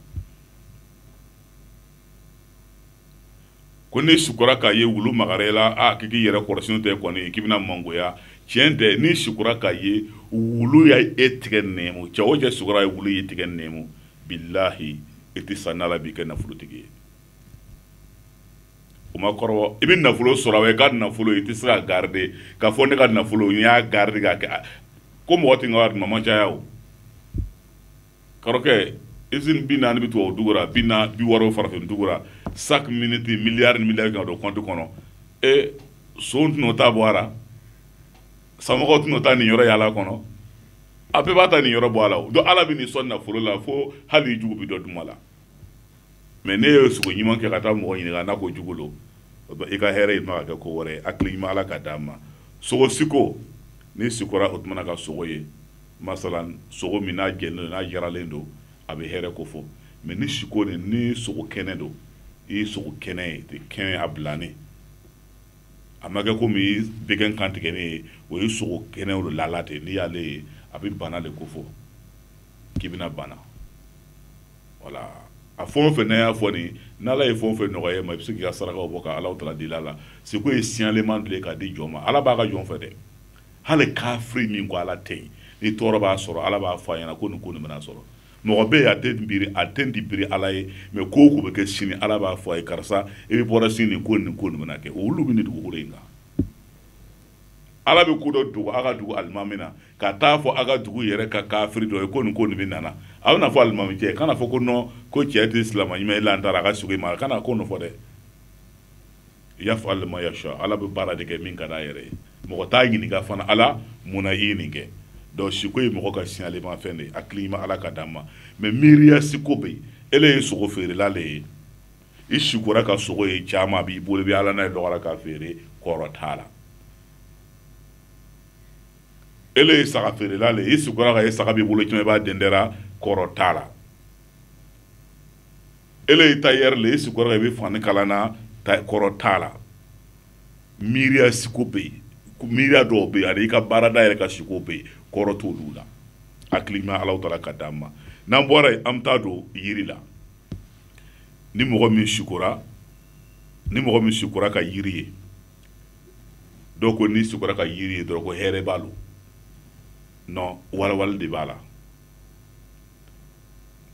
ko n'i sikora k'a ye wulu magara i la k'i k'i yɛrɛ kɔlɔsi n'o tɛ kɔni k'i bɛna mangoya tiɲɛ tɛ n'i sikora k'a ye wulu y'i tigɛ nɛmu cɛ o cɛ sikora k'a ye wulu y'i tigɛ nɛmu bilahi i tɛ sa n'ala m'i kɛ nafolotigi ye o ma kɔrɔ i bɛ nafolo sɔrɔ i ka nafolo i tɛ se k'a garide ka fɔ ne ka nafolo n y'a garide ka kɛ ko mɔgɔ tɛ ka mama caya o kɔrɔkɛ i bi naani bɛ to o dugu bi bi wɔɔrɔ farafin dugura sa mini tɛ miliri mi ka don kɔnti kɔnɔ e son tɛna o ta bɔ a sa tɛna o ta niyɔrɔ yalala kɔnɔ a bɛɛ b'a ta niyɔrɔ bɔ a la don ala bɛn'i sɔn nafolo la fo hali jugu bɛ dɔ dun a la mɛ n'i ye siko ɲuman kɛ ka taa mɔgɔ ɲininka n'a ko jugu lo i ka hɛrɛ yɛlɛma ka kɛ ko wɛrɛ hakili ɲuman ala ka d'an ma sogo siko n'i sikora o tuma ka sogo ye masala sogo min n'a jɛninen don n'a jiranen don a bɛ hɛrɛ kofɔ mɛ ni siko nin ni sogo kɛnɛ don i ye sogo kɛnɛ ye tɛ kɛnɛ a bilennen a ma kɛ komi bɛgɛn kan tigɛnen ye o ye sogo kɛnɛ o lalen ten n'i y'ale ye a bɛ bana de kofɔ k'i bɛna bana wala a fɔ o fɛ ne y'a fɔ nin n' ala ye fɔ fɛ nɔgɔya ye ma i bɛ se k'i ka saraka bɔ ka ala ta di la la siko ye signalement de k'a di jɔn ma ala b'a ka jɔn fɛ dɛ hali kafiri min ko ala tɛ yen ni tɔɔrɔ b'a sɔrɔ ala b'a fɔ a ɲɛna ko nin ko nin bɛna sɔrɔ mɔgɔ bɛ a tɛ bi a t'i biri ala ye mais ko ko bɛ kɛ sini ala b'a fɔ a ye karisa i bɛ bɔra sini nin ko nin ko nin bɛna kɛ olu bɛ nin dugu in kan ala bɛ ko dɔ dogo a ka dugu alimami na ka taa fɔ a ka dugu yɛrɛ ka kafiri dɔ ye ko nin ko nin bɛ nana a bɛna fɔ alimami cɛ kana fɔ ko nɔ ko cɛ tɛ silama ɲuman ye lantara a ka siko ma kana ko nɔfɔ dɛ yafa'alu ma yasha ala bɛ baara de kɛ min ka d'a yɛrɛ ye mɔgɔ t'a ɲininka fana ala mun na i ye nin kɛ donc siko ye mɔgɔ ka signalefɛn de ye hakili ma ala ka d'a ma mais miiriya siko bɛ yen ele ye sogo feerela le ye i sikora ka sogo ye caman b'i bolo bɛ wala n'a ye dɔgɔ la ka feere kɔrɔ t'a la e ye saga feerela le i sikora k'a ye saga b'i bolo caman i b'a dɛndɛra kɔrɔ t'a la ele ye tailleur le i sikora i bɛ fani kalan na kɔrɔ t'a la miiriya siko bɛ yen miiriya dɔw bɛ yen ani i ka baarada yɛrɛ ka siko bɛ yen kɔrɔ t'olu la hakili ma ala taala ka d'an ma n'an bɔra yen an bɛ taa don yiri la ni mɔgɔ min sikora ni mɔgɔ min sikora ka yiri ye dɔw ko n'i sikora ka yiri ye dɔrɔn ko hɛrɛ b'a la non walawala de b'a la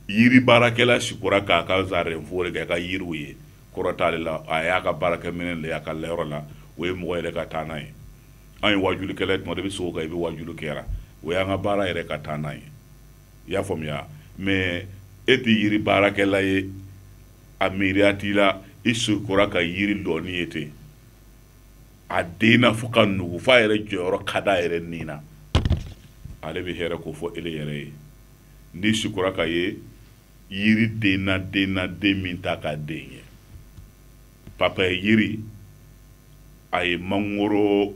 yiri baarakɛla sikora k'a ka zarɛnfo de kɛ ka yiriw ye kɔrɔ t'ale la a y'a ka baarakɛminɛn de y'a ka layɔrɔ la o ye mɔgɔ yɛrɛ ka taa n'a ye an ye waajulikɛla ye tuma dɔ i bɛ siko kan i bɛ waajuli kɛra o y'an ka baara yɛrɛ ka taa n'a ye i y'a faamuya mais e tɛ yiri baarakɛla ye a miiriya t'i la i sikora ka yiri lɔnin ye ten a denna fo ka nugu f'a yɛrɛ jɔyɔrɔ ka d'a yɛrɛ ni na ale bɛ hɛrɛ kofɔ ele yɛrɛ ye n'i sikora k'a ye yiri denna denna den min t'a ka den ye papaye yiri a ye mangoro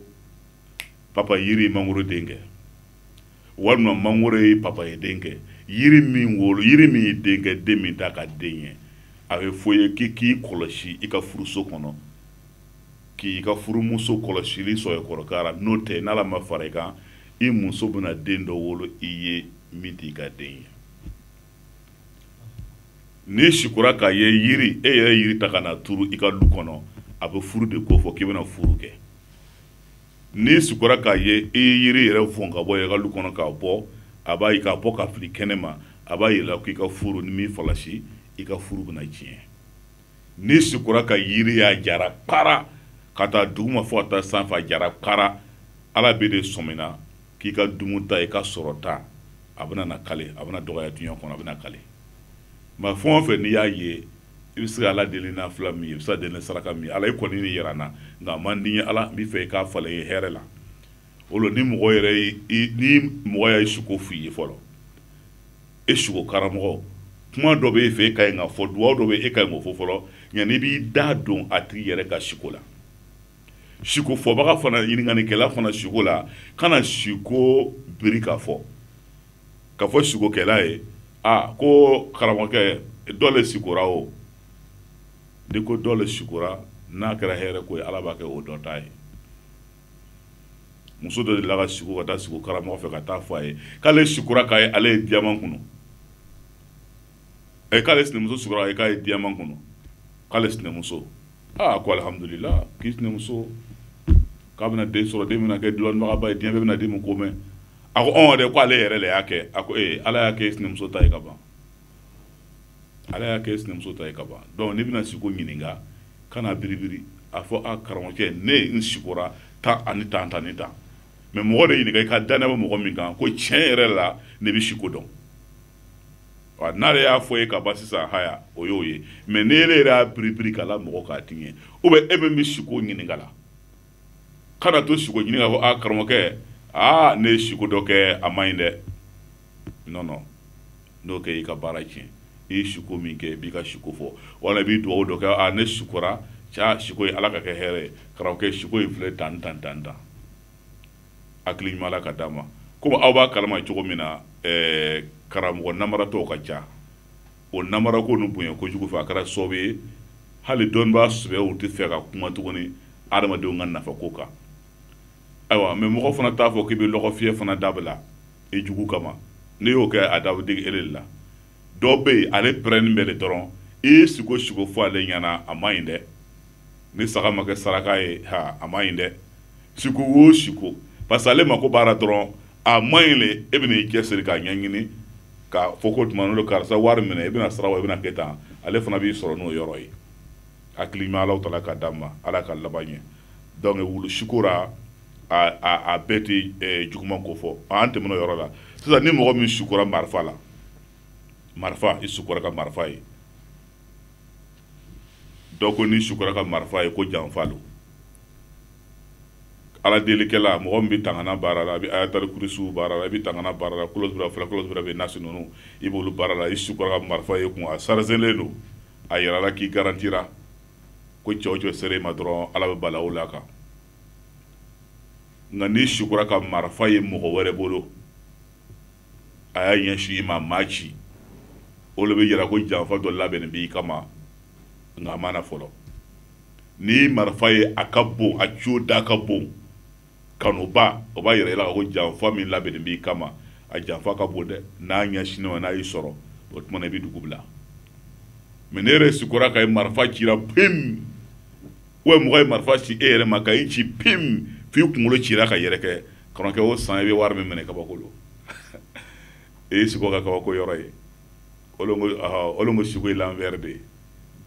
papaye yiri mangoro den kɛ walima mangoro ye papaye den kɛ yiri min wolo yiri min ye den kɛ den min t'a ka den ye a b'a fɔ i ye k'i k'i kɔlɔsi i ka furuso kɔnɔ k'i ka furumuso kɔlɔsili sɛbɛkɔrɔ kɛ a la n'o tɛ n'ala ma fara i kan i muso bɛna den dɔ wolo i ye min t'i ka den ye n'i sikora k'a ye yiri e yɛrɛ yiri ta ka na turu i ka du kɔnɔ a bɛ furu de kofɔ k'i bɛna furu kɛ n'i sukora k'a ye i ye yiri yɛrɛ fɔn ka bɔ i ka lu kɔnɔ k'a bɔ a b'a k'a bɔ k'a fili kɛnɛ ma a b'a yira k'i ka furu n'i m'i falasi i ka furu bɛna tiɲɛ n'i sukora ka yiri y'a jara para k'a ta duguma fɔ ka taa sanfɛ a jara para ala b'e de sɔmina k'i ka dumuta i ka sɔrɔta a bɛna na kale a bɛna dɔgɔya dunya kɔnɔ a bɛna kale nka fɛn o fɛn n'i y'a ye i bɛ se ka ala deli nafila min ye i bɛ se ka deli saraka min ye ala i kɔni nin yira n na nka a man di n ye ala n bɛ fɛ i k'a falen n ye hɛrɛ la o ni mɔgɔ yɛrɛ ni mɔgɔ y'a ye suko f'i ye fɔlɔ e suko karamɔgɔ kuma dɔ bɛ e fɛ e ka ɲi ka fɔ dugawu dɔ bɛ e ka ɲi ka fɔ fɔlɔ nka n'i b'i da don a tigi yɛrɛ ka suko la suko fɔbaga fana ɲininkalikɛla fana suko la kana suko biri ka fɔ ka fɔ sikokɛla ye a ko karamɔgɔkɛ dɔ le sikora o n'i ko dɔ le sikora n'a kɛra hɛrɛ ko ye ala b'a kɛ o dɔ ta ye muso dɔ dela ka siko ka taa siko karamɔgɔ fɛ ka taa fɔ a ye k'ale sikora k'a ye ale ye diyaman kunu ɛ k'ale sinamuso sikora e k'a ye diyaman kunu k'ale sinamuso aa ko alihamudulila k'i sinamuso k'a bɛna den sɔrɔ den bɛna kɛ lɔnnibagaba ye diɲɛ bɛɛ bɛna den min ko mɛn a ko ɔn dɛ ko ale yɛrɛ le y'a kɛ a ko ee ala y'a kɛ e sinamuso ta ye ka ban ala y'a kɛ e sinamuso ta ye ka ban donc n'i bɛna siko ɲininka kan'a biribiri a fɔ a karamɔgɔcɛ ne n sikora tan ani tan tan ni tan mɛ mɔgɔ de ɲininka i ka danaya bɛ mɔgɔ min kan ko tiɲɛ yɛrɛ la ne bɛ siko dɔn n'ale y'a fɔ i ye ka ban sisan haya o y'o ye mɛ ni ele yɛrɛ y'a biribiri ka la mɔgɔ k'a tiɲɛ u bɛ e min bɛ siko ɲininka la kana to siko ɲininka fɔ a karamɔgɔkɛ aa ne ye siko dɔ kɛ a man ɲi dɛ nɔnɔ n'o kɛ i ka baara tiɲɛ i ye siko min kɛ i b'i ka siko fɔ wala i b'i dugawu dɔ kɛ a ne sikora cɛ siko ye ala k'a kɛ hɛrɛ ye karamɔgɔkɛ siko in filɛ tan tan tan tan hakili ɲuman ala k'a d'an ma komi aw b'a kalama cogo min na eh, karamɔgɔ namaratɔw ka ca o namarako nin bonya kojugu fɛ a kɛra sababu ye hali dɔnnibaa sɛbɛw t'a fɛ ka kuma tuguni adamadenw ka nafako kan ayiwa mɛ mɔgɔ fana t'a fɔ k'i bɛ lɔgɔfiyɛ fana dabila i jugu kama n'i y'o kɛ a da bɛ digi ele la dɔw bɛ yen ale pɛrɛnnen bɛ le dɔrɔn i ye siko o siko fɔ ale ɲɛna a man ɲi dɛ ni saga ma kɛ saraka ye ha a man ɲi dɛ siko wo siko parce que ale mako b'a la dɔrɔn a man ɲi le e bɛna i cɛsiri k'a ɲɛɲini ka fɔ ko tuma n'o karisa wari minɛ i bɛna sara wa i bɛna kɛ tan ale fana b'i sɔrɔ n'o yɔrɔ ye hakili ɲuman alahutala k'a d'an ma ala k'an laban ɲɛ donc wulu siko ra a a a bɛɛ tɛ eh, juguman ko fɔ an tɛmɛn'o yɔrɔ la sisan ni mɔgɔ min sukora marifa la marifa i sukora ka marifa ye dɔ ko n'i sukura ka marifa ye ko janfa don ala delikɛla mɔgɔ min bɛ tangana baara la a bɛ ayatali kurisiyu baara la i bɛ tangana baara la kolosura fila kolosura bɛ nasi ninnu i b'olu baara la i sukura ka marifa ye ko a sarizelen don a yira la k'i garantira ko cɛw cɛ sere ma dɔrɔn ala bɛ balaw la kan nka n'i sukura ka marifa ye mɔgɔ wɛrɛ bolo a y'a ɲɛsin i ma a m'a ci o de b'a yira ko janfa dɔ labɛn b'i kama nka a mana fɔlɔ ni marifa ye a ka bon a jo da ka bon kanuba o b'a yira la ko janfa min labɛn b'i kama a janfa ka bon dɛ n'a ɲɛsin i ma n'a y'i sɔrɔ o tuma i bɛ dugu bila mɛ n'e yɛrɛ sukura ka ye marifa ci pe u ye mɔgɔ ye marifa ci e yɛrɛ ma ka i ci pim f'i kunkolo cira ka yɛrɛkɛ kɔnɔkɛ o san i bɛ wari min minɛ kabako don e ye siko ka kabako yɔrɔ ye olu ko aha olu ko sugo ye l'envers de ye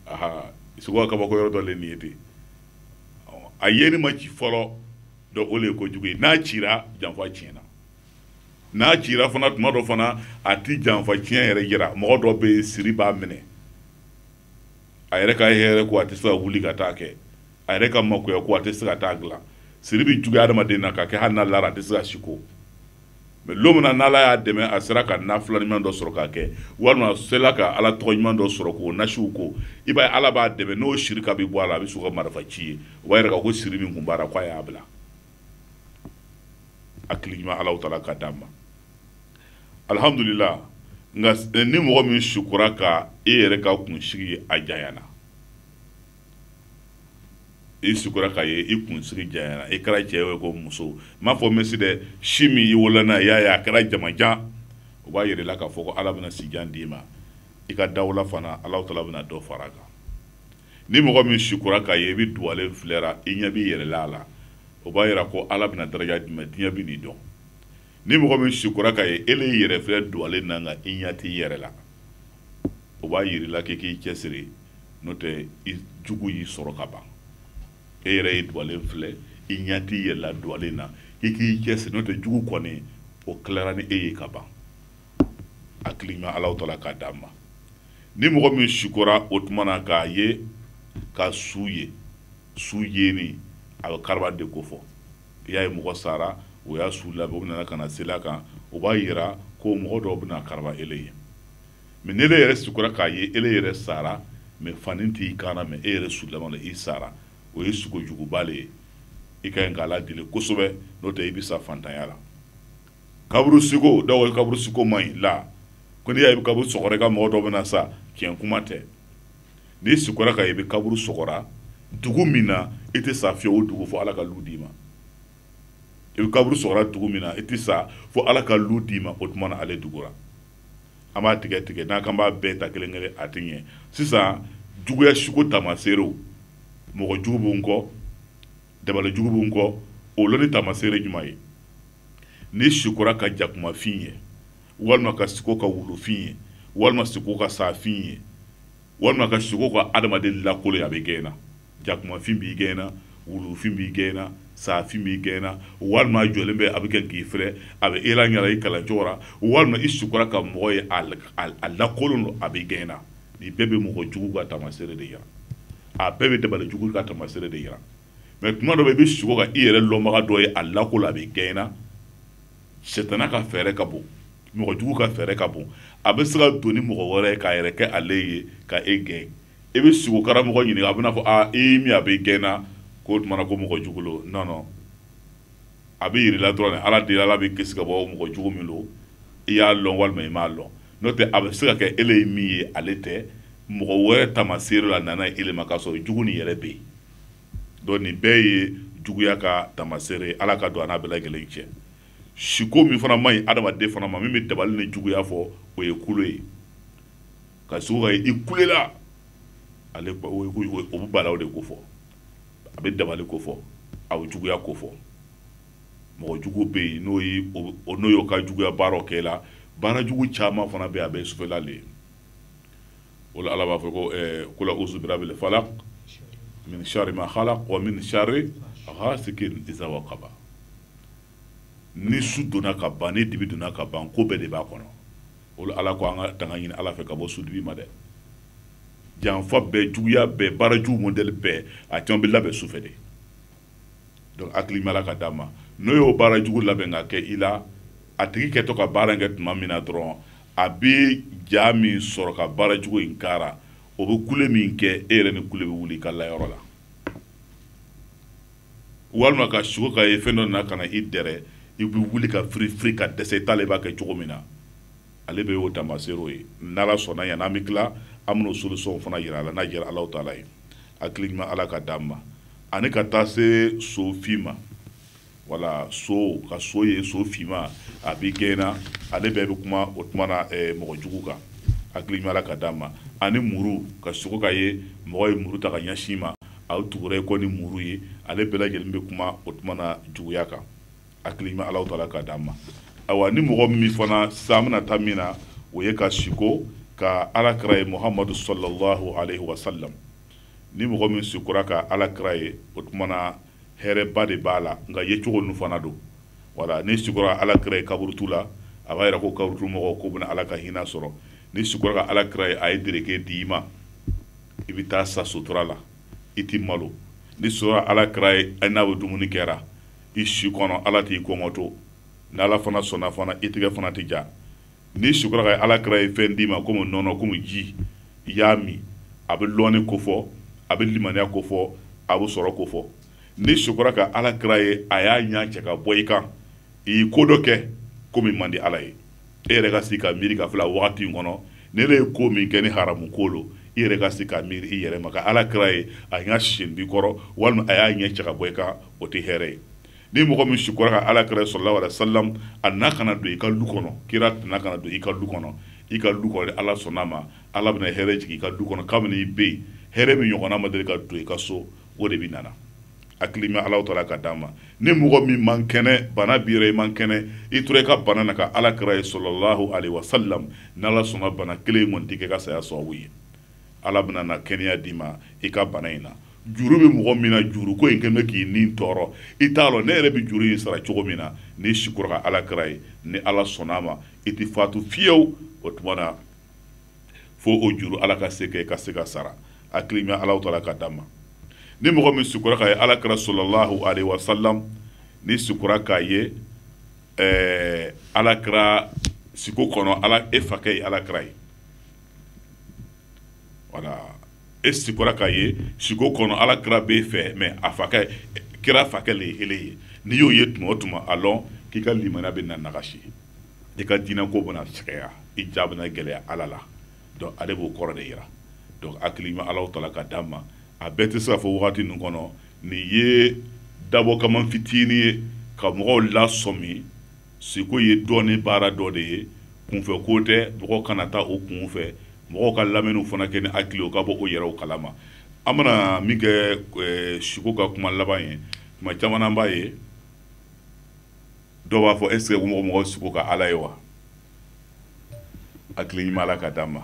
aha sugo ka kabako yɔrɔ dɔ le nin ye ten a yeli ma ci fɔlɔ dɔ o le ye kojugu ye n'a cira janfa tiɲɛna n'a cira fana tuma dɔ fana a ti janfa tiɲɛ yɛrɛ yira mɔgɔ dɔ bɛ siri b'a minɛ a yɛrɛ ka hɛrɛ ko a tɛ se ka wuli ka taa kɛ a yɛrɛ ka makoya ko a tɛ se ka taa dilan siri bɛ juguya adamaden na ka kɛ hali n'a lara a tɛ se ka siko mɛ don min na n'ala y'a dɛmɛ a sera ka na fila ɲuman dɔ sɔrɔ k'a kɛ walima a sela ka ala tɔgɔ ɲuman dɔ sɔrɔ k'o nasiw ko i b'a ala b'a dɛmɛ n'o siri ka bɛ bɔ a la a bɛ siko ka marifa ci ye o b'a yira ko siri min kun b'a la k'a y'a bila hakili ɲuman ala tala k'a d'an ma alihamdulila nka eh, ni mɔgɔ min sukura ka e yɛrɛ ka kunsigi a janyana i sukura k'a ye i kunsigi janyana i kɛra cɛ ye ko muso n m'a fɔ mesi dɛ si min i wolola n'a ye i y'a ye a kɛra jamanjan o b'a yira la k'a fɔ ko ala bɛna sijan d'i ma i ka dawula fana ala tala bɛna dɔ fara a kan ni mɔgɔ min sukura k'a ye i bɛ duwalen filɛra i ɲɛ b'i yɛrɛ la a la o b'a yira ko ala bɛna daraja d'i ma diɲɛ bɛn'i dɔn ni mɔgɔ min sikora k'a ye e y'i yɛrɛ filɛ duwalen na nka i ɲɛ t'i yɛrɛ la o b'a yira la k'i k'i cɛsiri n'o tɛ i jugu y'i sɔrɔ ka ban e yɛrɛ ye duwalen filɛ i ɲɛ t'i yɛrɛ la duwalen na i k'i cɛsiri n'o tɛ jugu kɔni o tilara ni e ye ka ban hakili ɲuman ala tala k'a d'an ma ni mɔgɔ min sikora o tuma na k'a ye ka su ye su yeni a bɛ karaba de kofɔ i y'a ye mɔgɔ sara o y'a su labɛn o nana ka na sel'a kan o b'a yira ko mɔgɔ dɔw bɛna karaba ele ye mɛ ni ele yɛrɛ sikora k'a ye ele yɛrɛ sara mɛ fani t'i kan na mɛ e yɛrɛ su laban la i sara o ye sugo juguba le ye i ka ɲi ka ala deli kosɛbɛ n'o tɛ i bɛ sa fantanya la kaburu siko dɔw ye kaburu siko man ɲi la ko n'i y'a ye kaburu sɔgɔra i ka mɔgɔ dɔ bɛna sa tiɲɛ kuma tɛ n'i sikora ka i bɛ kaburu sɔgɔra dugu min na i tɛ sa fiyewu o dugu fo ala ka lu d'i ma i bɛ kaburu sɔgɔra dugu min na i tɛ sa fo ala ka lu d'i ma o tuma na ale dugura an b'a tigɛ tigɛ n'an k'an b'a bɛɛ ta kelen kelen a tɛ ɲɛ sisan juguya siko tamaseerew mɔgɔ jugu b'u kɔ dabali jugu b'u kɔ o lɔnni tamaseere jumɛn ye n'i sikora ka jakumafin ye walima ka siko ka wulufin ye walima siko ka saafin ye walima ka siko ka adamaden lakolon ye a bɛ gɛn na jakumafin b'i gɛn na wulufin b'i gɛn na saafin b'i gɛn na walima jɔlen bɛ a bɛ kɛ k'i filɛ a bɛ ela ɲɛna i kalancogo la walima i sikora ka mɔgɔ ye a lakolon don a bɛ gɛn na nin bɛɛ bɛ mɔgɔ jugu ka taamasere de yira a bɛɛ bɛ dabali jugu ka taamasere de yira mɛ tuma dɔ bɛ i bɛ siko ka i yɛrɛ lɔnbaga dɔ ye a lakolon a bɛ gɛn na sitana ka fɛɛrɛ ka bon mɔgɔ jugu ka fɛɛrɛ ka bon a bɛ se ka don ni mɔgɔ wɛrɛ ye k'a yɛrɛ kɛ ale ye ka e gɛn e bɛ sugo karamɔgɔ ɲininka a bɛna fɔ aa e y'i min a bɛ gɛn na k'o tumana ko mɔgɔ jugu lo non non a bɛ yir'i la dɔrɔn de ala deli ala b'i kisi ka bɔ mɔgɔ jugu min lo i y'a lɔn walima i m'a lɔn n'o tɛ a bɛ se ka kɛ ele ye min ye ale tɛ mɔgɔ wɛrɛ tamaseere la nana ele ma k'a sɔrɔ jugu nin yɛrɛ bɛ yen donc nin bɛɛ ye juguya ka tamasere ala ka don an n'a bɛɛ lajɛlen cɛ siko min fana man ɲi adamaden fana ma min bɛ dabali ni juguya fɔ o ye kule ye ka sugo i kulela ale o bɛ bala de ko fɔ a bɛ dabali ko fɔ a bɛ juguya ko fɔ mɔgɔ jugu bɛ yen n'o n'o y'o ka juguya baara kɛ la baara jugu caman fana bɛ a bɛ sufɛla le ye o la ala b'a fɔ ko kul awusu birabil falak mini sari ma halak wa mini sari hasikin isa wakaba ni su donna ka ban ni dibi donna ka ban ko bɛɛ de b'a kɔnɔ o la ala ko an ka tanga ɲini ala fɛ ka bɔ sudibi ma dɛ janfa bɛɛ juguya bɛɛ baara jugu mɔdɛli bɛɛ a caman bɛ labɛn su fɛ de donc hakili mala ka d'a ma n'o y'o baara jugu labɛn ka kɛ i la a tigi kɛtɔ ka baara kɛ tuma min na dɔrɔn a bɛ ja min sɔrɔ ka baara jugu in k'a ra o bɛ kule min kɛ e yɛrɛ ni kule bɛ wuli ka layɔrɔ la walima ka sugo ka ye fɛn dɔ nana ka na i dɛrɛ i bɛ wuli ka firi firi ka dɛsɛ i t'a lɔn i b'a kɛ cogo min na ale bɛɛ y'o taamaseerew ye n'ala sɔnna yan n'an bɛ tila an bɛn'o solution fana jira aw la n'a diyara Alahu taala ye hakili ɲuman Ala ka d'an ma ani ka taa se so fin ma wala siko ka so ye so finma a b'i gɛnna ale bɛɛ bɛ kuma o tuma na eh, mɔgɔ jugu kan hakili ɲuman Ala ka d'an ma ani muru ka siko k'a ye mɔgɔ ye muru ta ka ɲɛsin i ma a tugura i kɔ ni muru ye ale bɛɛ lajɛlen bɛ kuma o tuma na juguya kan hakili ɲuman alahu taala k'a d'an ma awa ni mɔgɔ min fana sisan bɛna taa min na o ye ka siko ka ala kira ye muhamadu salalahu alayhi wa salam ni mɔgɔ min sikora ka ala kira ye o tumana hɛrɛba de b'a la nka yecogo ninnu fana don wala n'i sikora ala kira ye kaburudo la a b'a yira ko kaburudo mɔgɔ k'o bɛna ala ka hinɛ sɔrɔ n'i sikora ka ala kira ye a ye dereke di i ma i bɛ taa sa sutura la i tɛ malo n'i sikora ala kira ye n'a bɛ dumuni kɛra i si kɔnɔ ala t'i kɔngɔ to ni ala fana sɔnna fana i tigɛ fana tɛ ja n'i sikora ka ala kira ye fɛn d'i ma komi nɔnɔ komi ji i y'a min a bɛ lɔni kofɔ a bɛ limaniya kofɔ a bɛ sɔrɔ kofɔ n'i sikora ka ala kira ye a y'a ɲa cɛ ka bɔ i kan i ye ko dɔ kɛ ko min man di ala ye e yɛrɛ ka sigi ka miiri k'a filɛ wagati in kɔnɔ ne le ye ko min kɛ ni haramu ko lo i yɛrɛ ka sigi ka miiri i yɛrɛ ma ka ala kira ye a n ka sindi kɔrɔ walima a y'a ɲɛ cɛ ka bɔ i kan o tɛ hɛrɛ ye ni mɔgɔ min sikora ka ala kira salalahu alayhi wa salam a nana ka na don i ka du kɔnɔ kira de nana ka na don i ka du kɔnɔ i ka du kɔnɔ n'ala sɔnna a ma ala bɛna hɛrɛ jigin i ka du kɔnɔ kabini i bɛ yen hɛrɛ min ɲɔgɔnna ma deli ka don i ka so o de bɛ nana A hakili ɲuman ala taala k'a d'an ma ni mɔgɔ min man kɛnɛ bana b'i ra i man kɛnɛ i tora i ka bana na ka ala kira ye salalahu alayhi wa salam ni ala sɔnna i ka bana kelen in kɔni kɛ i ka saya sɔrɔ ye ala bɛna na kɛnɛya d'i ma i ka bana in na juru bɛ mɔgɔ min na juru ko in kɛ bɛ k'i nin tɔɔrɔ i t'a dɔn ne yɛrɛ bɛ juru in sara cogo min na n'i sikora ka ala kira ye ni ala sɔnna a ma i tɛ fatu fiyew o tuma na fo o juru ala ka se ka ka se k'a sara a hakili ɲuman ala taala k'a d'an ma ni mɔgɔ min sikora k'a ye ala kira salalahu alaihi wasalam n'i sikora k'a ye ɛɛ ala kira siko kɔnɔ ala e fakɛ ye ala kira ye wala e sikora k'a ye siko kɔnɔ ala kira b'e fɛ mɛ a fakɛ kira fakɛ le ye ele ye n'i y'o ye tuma o tuma a lɔn k'i ka limaniya bɛna nagasi i ka diinɛko bɛna sɛgɛya i ja bɛna gɛlɛya ala la donc ale b'o kɔrɔ de yira donc hakili ɲuman ala taala k'a d'an ma a bɛɛ tɛ se ka fɔ wagati ninnu kɔnɔ nin ye dabɔ kama fitinin ye ka mɔgɔw lasɔmi siko ye dɔnni baara dɔ de ye kunfɛ ko tɛ mɔgɔw kana taa o kunfɛ mɔgɔw ka lamɛnni fana kɛ ni hakili ye o ka bɔ o yɛrɛ kalama an bɛna min kɛ eh, siko ka kuma laban ye tuma caman b'a ye dɔw b'a fɔ est ce que mɔgɔ mɔgɔ siko ka ala ye wa a hakili ɲuman ala k'a d'an ma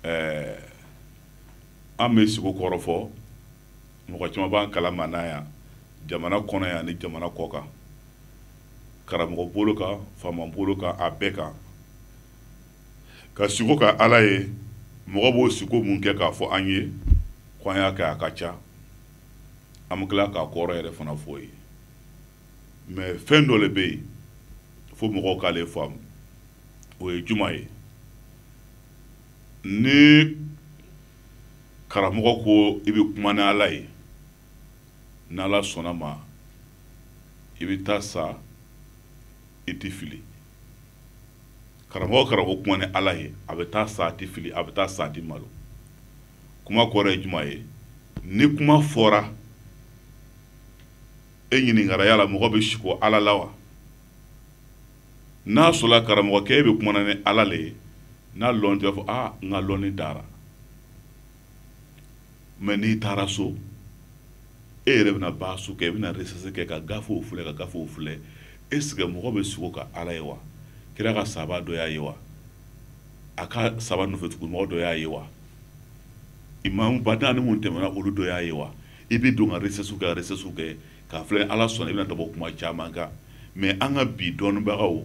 ɛɛ an bɛ sugo kɔrɔ fɔ mɔgɔ caman b'an kalama n'a yan jamana kɔnɔ yan ni jamana kɔ kan karamɔgɔ bolo kan faama bolo kan a bɛɛ kan ka sugo ka ala ye mɔgɔ b'o sugo mun kɛ k'a fɔ an ye ko an y'a kɛ a ka ca an bɛ tila k'a kɔrɔ yɛrɛ fana fɔ ye mais fɛn dɔ le bɛ yen fo mɔgɔw k'ale faamu o ye jumɛn ye ni karamɔgɔ ko i bɛ kuma ni ala ye n'ala sɔnna ma i bɛ taa sa i tɛ fili karamɔgɔ karamɔgɔ kuma ni ala ye a bɛ taa sa a tɛ fili a bɛ taa sa a tɛ malo kuma kɔrɔ ye jumɛn ye ni kuma fɔra e ɲininkara yala mɔgɔ bɛ siko ala la wa n'a sɔrɔla karamɔgɔkɛ e bɛ kuma na ni ala le ye n'a lɔn tɛ fɔ aa n ka lɔnni dara mais n'i taara so e yɛrɛ bɛna baasu kɛ e bɛna recherche kɛ ka gafew filɛ ka gafew filɛ est-ce que mɔgɔ bɛ siko ka ala ye wa kira ka sahaba dɔ y'a ye wa a ka sahaba nɔfɛtugumɔgɔ dɔ y'a ye wa imamuba naani minnu tɛmɛna olu dɔ y'a ye wa i bɛ don ka recherche kɛ ka recherche kɛ k'a filɛ ni ala sɔnna i bɛna da bɔ kuma caman kan mais an ka bi dɔnnibagaw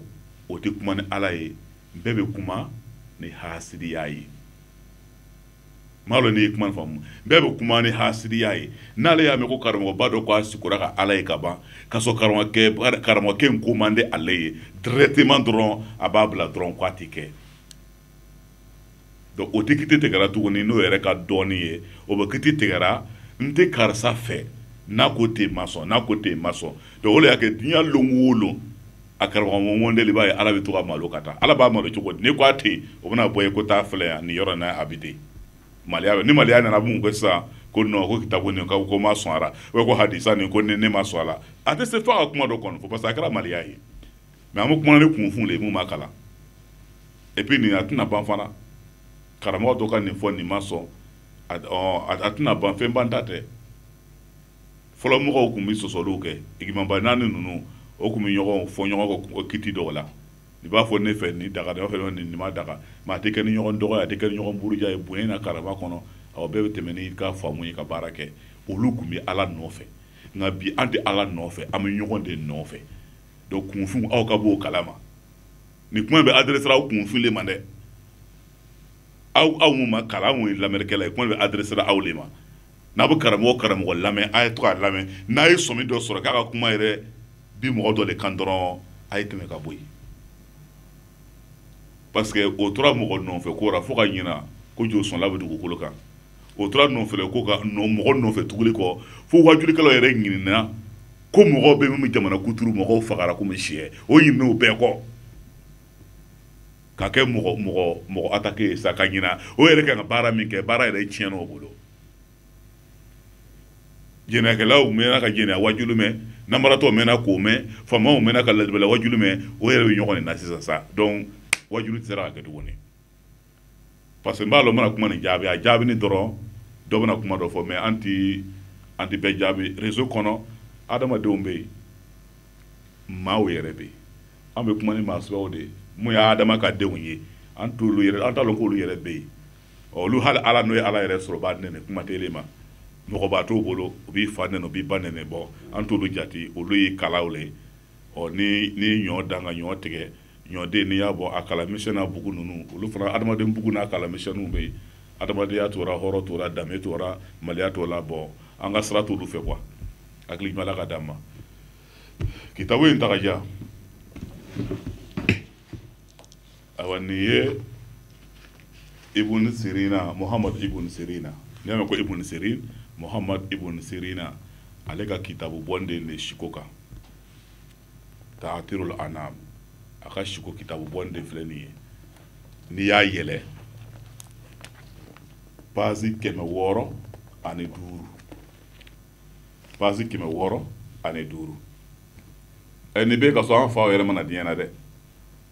o tɛ kuma ni ala ye bɛɛ bɛ kuma ni hasidiya ye n m'a dɔn n'i ye kuma faamu bɛɛ bɛ kuma ni hasidiya ye n'ale y'a mɛn ko karamɔgɔba dɔ ko a sikora ka ala ye ka ban ka sɔrɔ karamɔgɔkɛ karamɔgɔkɛ in ko man di ale ye directement dɔrɔn a b'a bila dɔrɔn k'a tɛ kɛ donc o tɛ kiti tigɛra tuguni n'o yɛrɛ ka dɔnni ye o bɛ kiti tigɛra n tɛ karisa fɛ n'a ko ten ma sɔn n'a ko ten ma sɔn donc o de y'a kɛ diɲɛ lon o lon a karamɔgɔ ŋɔnde i b'a ye ala bɛ to ka malo ka taa ala b'a malo cogo di n'i ko a tɛ yen o bɛna fɔ i ye ko taa filɛ yan nin yɔrɔ in na a bɛ ten maloya bɛ ni maloya nana mun kɛ sisan ko non ko kitabu nin ko ko ma sɔn a la ko hadisa nin ko ne ma sɔn a la a tɛ se fo a ka kuma dɔ kɔnɔ fɔ parce que a kɛra maloya ye mais an bɛ kuma ni kunfin de ye mun ma kalan et puis nin a tɛna ban fana karamɔgɔ dɔ ka nin fɔ nin ma sɔn a tɛna ban fɛn banta tɛ fɔlɔ mɔgɔw tun bɛ sɔsɔliw kɛ imamuba naani ninnu o tun bɛ ɲɔgɔn fɔ ɲɔgɔn kiti dɔw la i b'a fɔ ne fɛ nin daga dɔ fɛ nin ma daga mais a tɛ kɛ ni ɲɔgɔn dɔgɔya tɛ kɛ ɲɔgɔn buruja ye bonya ni karama kɔnɔ aw bɛɛ bɛ tɛmɛ n'i ka faamu ye ka baara kɛ olu tun bɛ ala nɔfɛ nka bi an tɛ ala nɔfɛ an bɛ ɲɔgɔn de nɔfɛ donc kunfinw aw ka b'o kala ma nin kuma bɛ adresera aw kunfin le ma dɛ aw aw ma kalan aw ye lamɛnrikɛla ye kuma bɛ adresera aw de ma n'a bɛ karamɔgɔ karamɔgɔ lamɛn a ye to a lamɛn n'a ye sɔmi dɔ sɔrɔ k'a ka kuma yɛrɛ bi mɔgɔ dɔ de kan dɔrɔn a ye tɛmɛ ka bɔ yen parce que o tora mɔgɔ nɔfɛ ko la fo ka ɲina ko josɔnla bɛ dugukolo kan o tora nɔfɛ ko ka mɔgɔ nɔfɛ tuguli kɔ fo wajulikɛlaw yɛrɛ ɲinana ko mɔgɔ bɛ min jamana kuturu mɔgɔw fagara ko si o ɲinana o bɛɛ kɔ ka kɛ mɔgɔ mɔgɔ mɔgɔ attaquer sa ka ɲina o yɛrɛ ka ka baara min kɛ baara yɛrɛ tiɲɛn'o bolo jɛnɛyakɛlaw mɛnna ka jɛnɛya wajulu mɛn nanbaratɔ mɛnna k'o mɛn faamaw mɛnna ka ladibala wajulu mɛn o yɛrɛ bɛ ɲɔgɔn de na sisan sa donc wajulu tɛ se ka kɛ tuguni parce que n b'a dɔn n bɛna kuma nin jaabi a jaabi ni dɔrɔn dɔ bɛna kuma dɔ fɔ mais an ti an ti bɛɛ jaabi rezo kɔnɔ adamadenw bɛ yen maaw yɛrɛ bɛ yen an bɛ kuma ni maa suguyaw de ye min ye adama ka denw ye an t'olu yɛrɛ an t'a dɔn k'olu yɛrɛ bɛ yen olu hali ala n'o ye ala yɛrɛ sɔrɔ o b'a nɛni kuma tɛ ma mɔgɔba t'o bolo u b'i fa nɛni u b'i ba nɛni bon an t'olu jate olu ye kalaw le ɔ ni ni ɲɔ dan ka ɲɔ tigɛ ɲɔden n'i y'a bɔ a kala misɛn n'a bugu ninnu olu fana adamaden bugu n'a kala misɛnninw bɛ yen adamadenya t'o ra hɔrɔn t'o ra danbe t'o ra maloya t'o la bon an ka sira t'olu fɛ quoi hakili ɲuman ka d'an ma kitabu in tagaja awa nin ye ibun sirina muhammad ibun sirina n'i y'a mɛn ko ibun sirin muhammad ibun sirina ale ka kitabu bɔlen de siko kan taatirul anam a ka siko kitabu bɔlen filɛ nin ye n'i y'a yɛlɛ pazi kɛmɛ wɔɔrɔ ani duuru pazi kɛmɛ wɔɔrɔ ani duuru ɛ nin bɛ ka sɔrɔ an faw yɛrɛ ma na diɲɛ na dɛ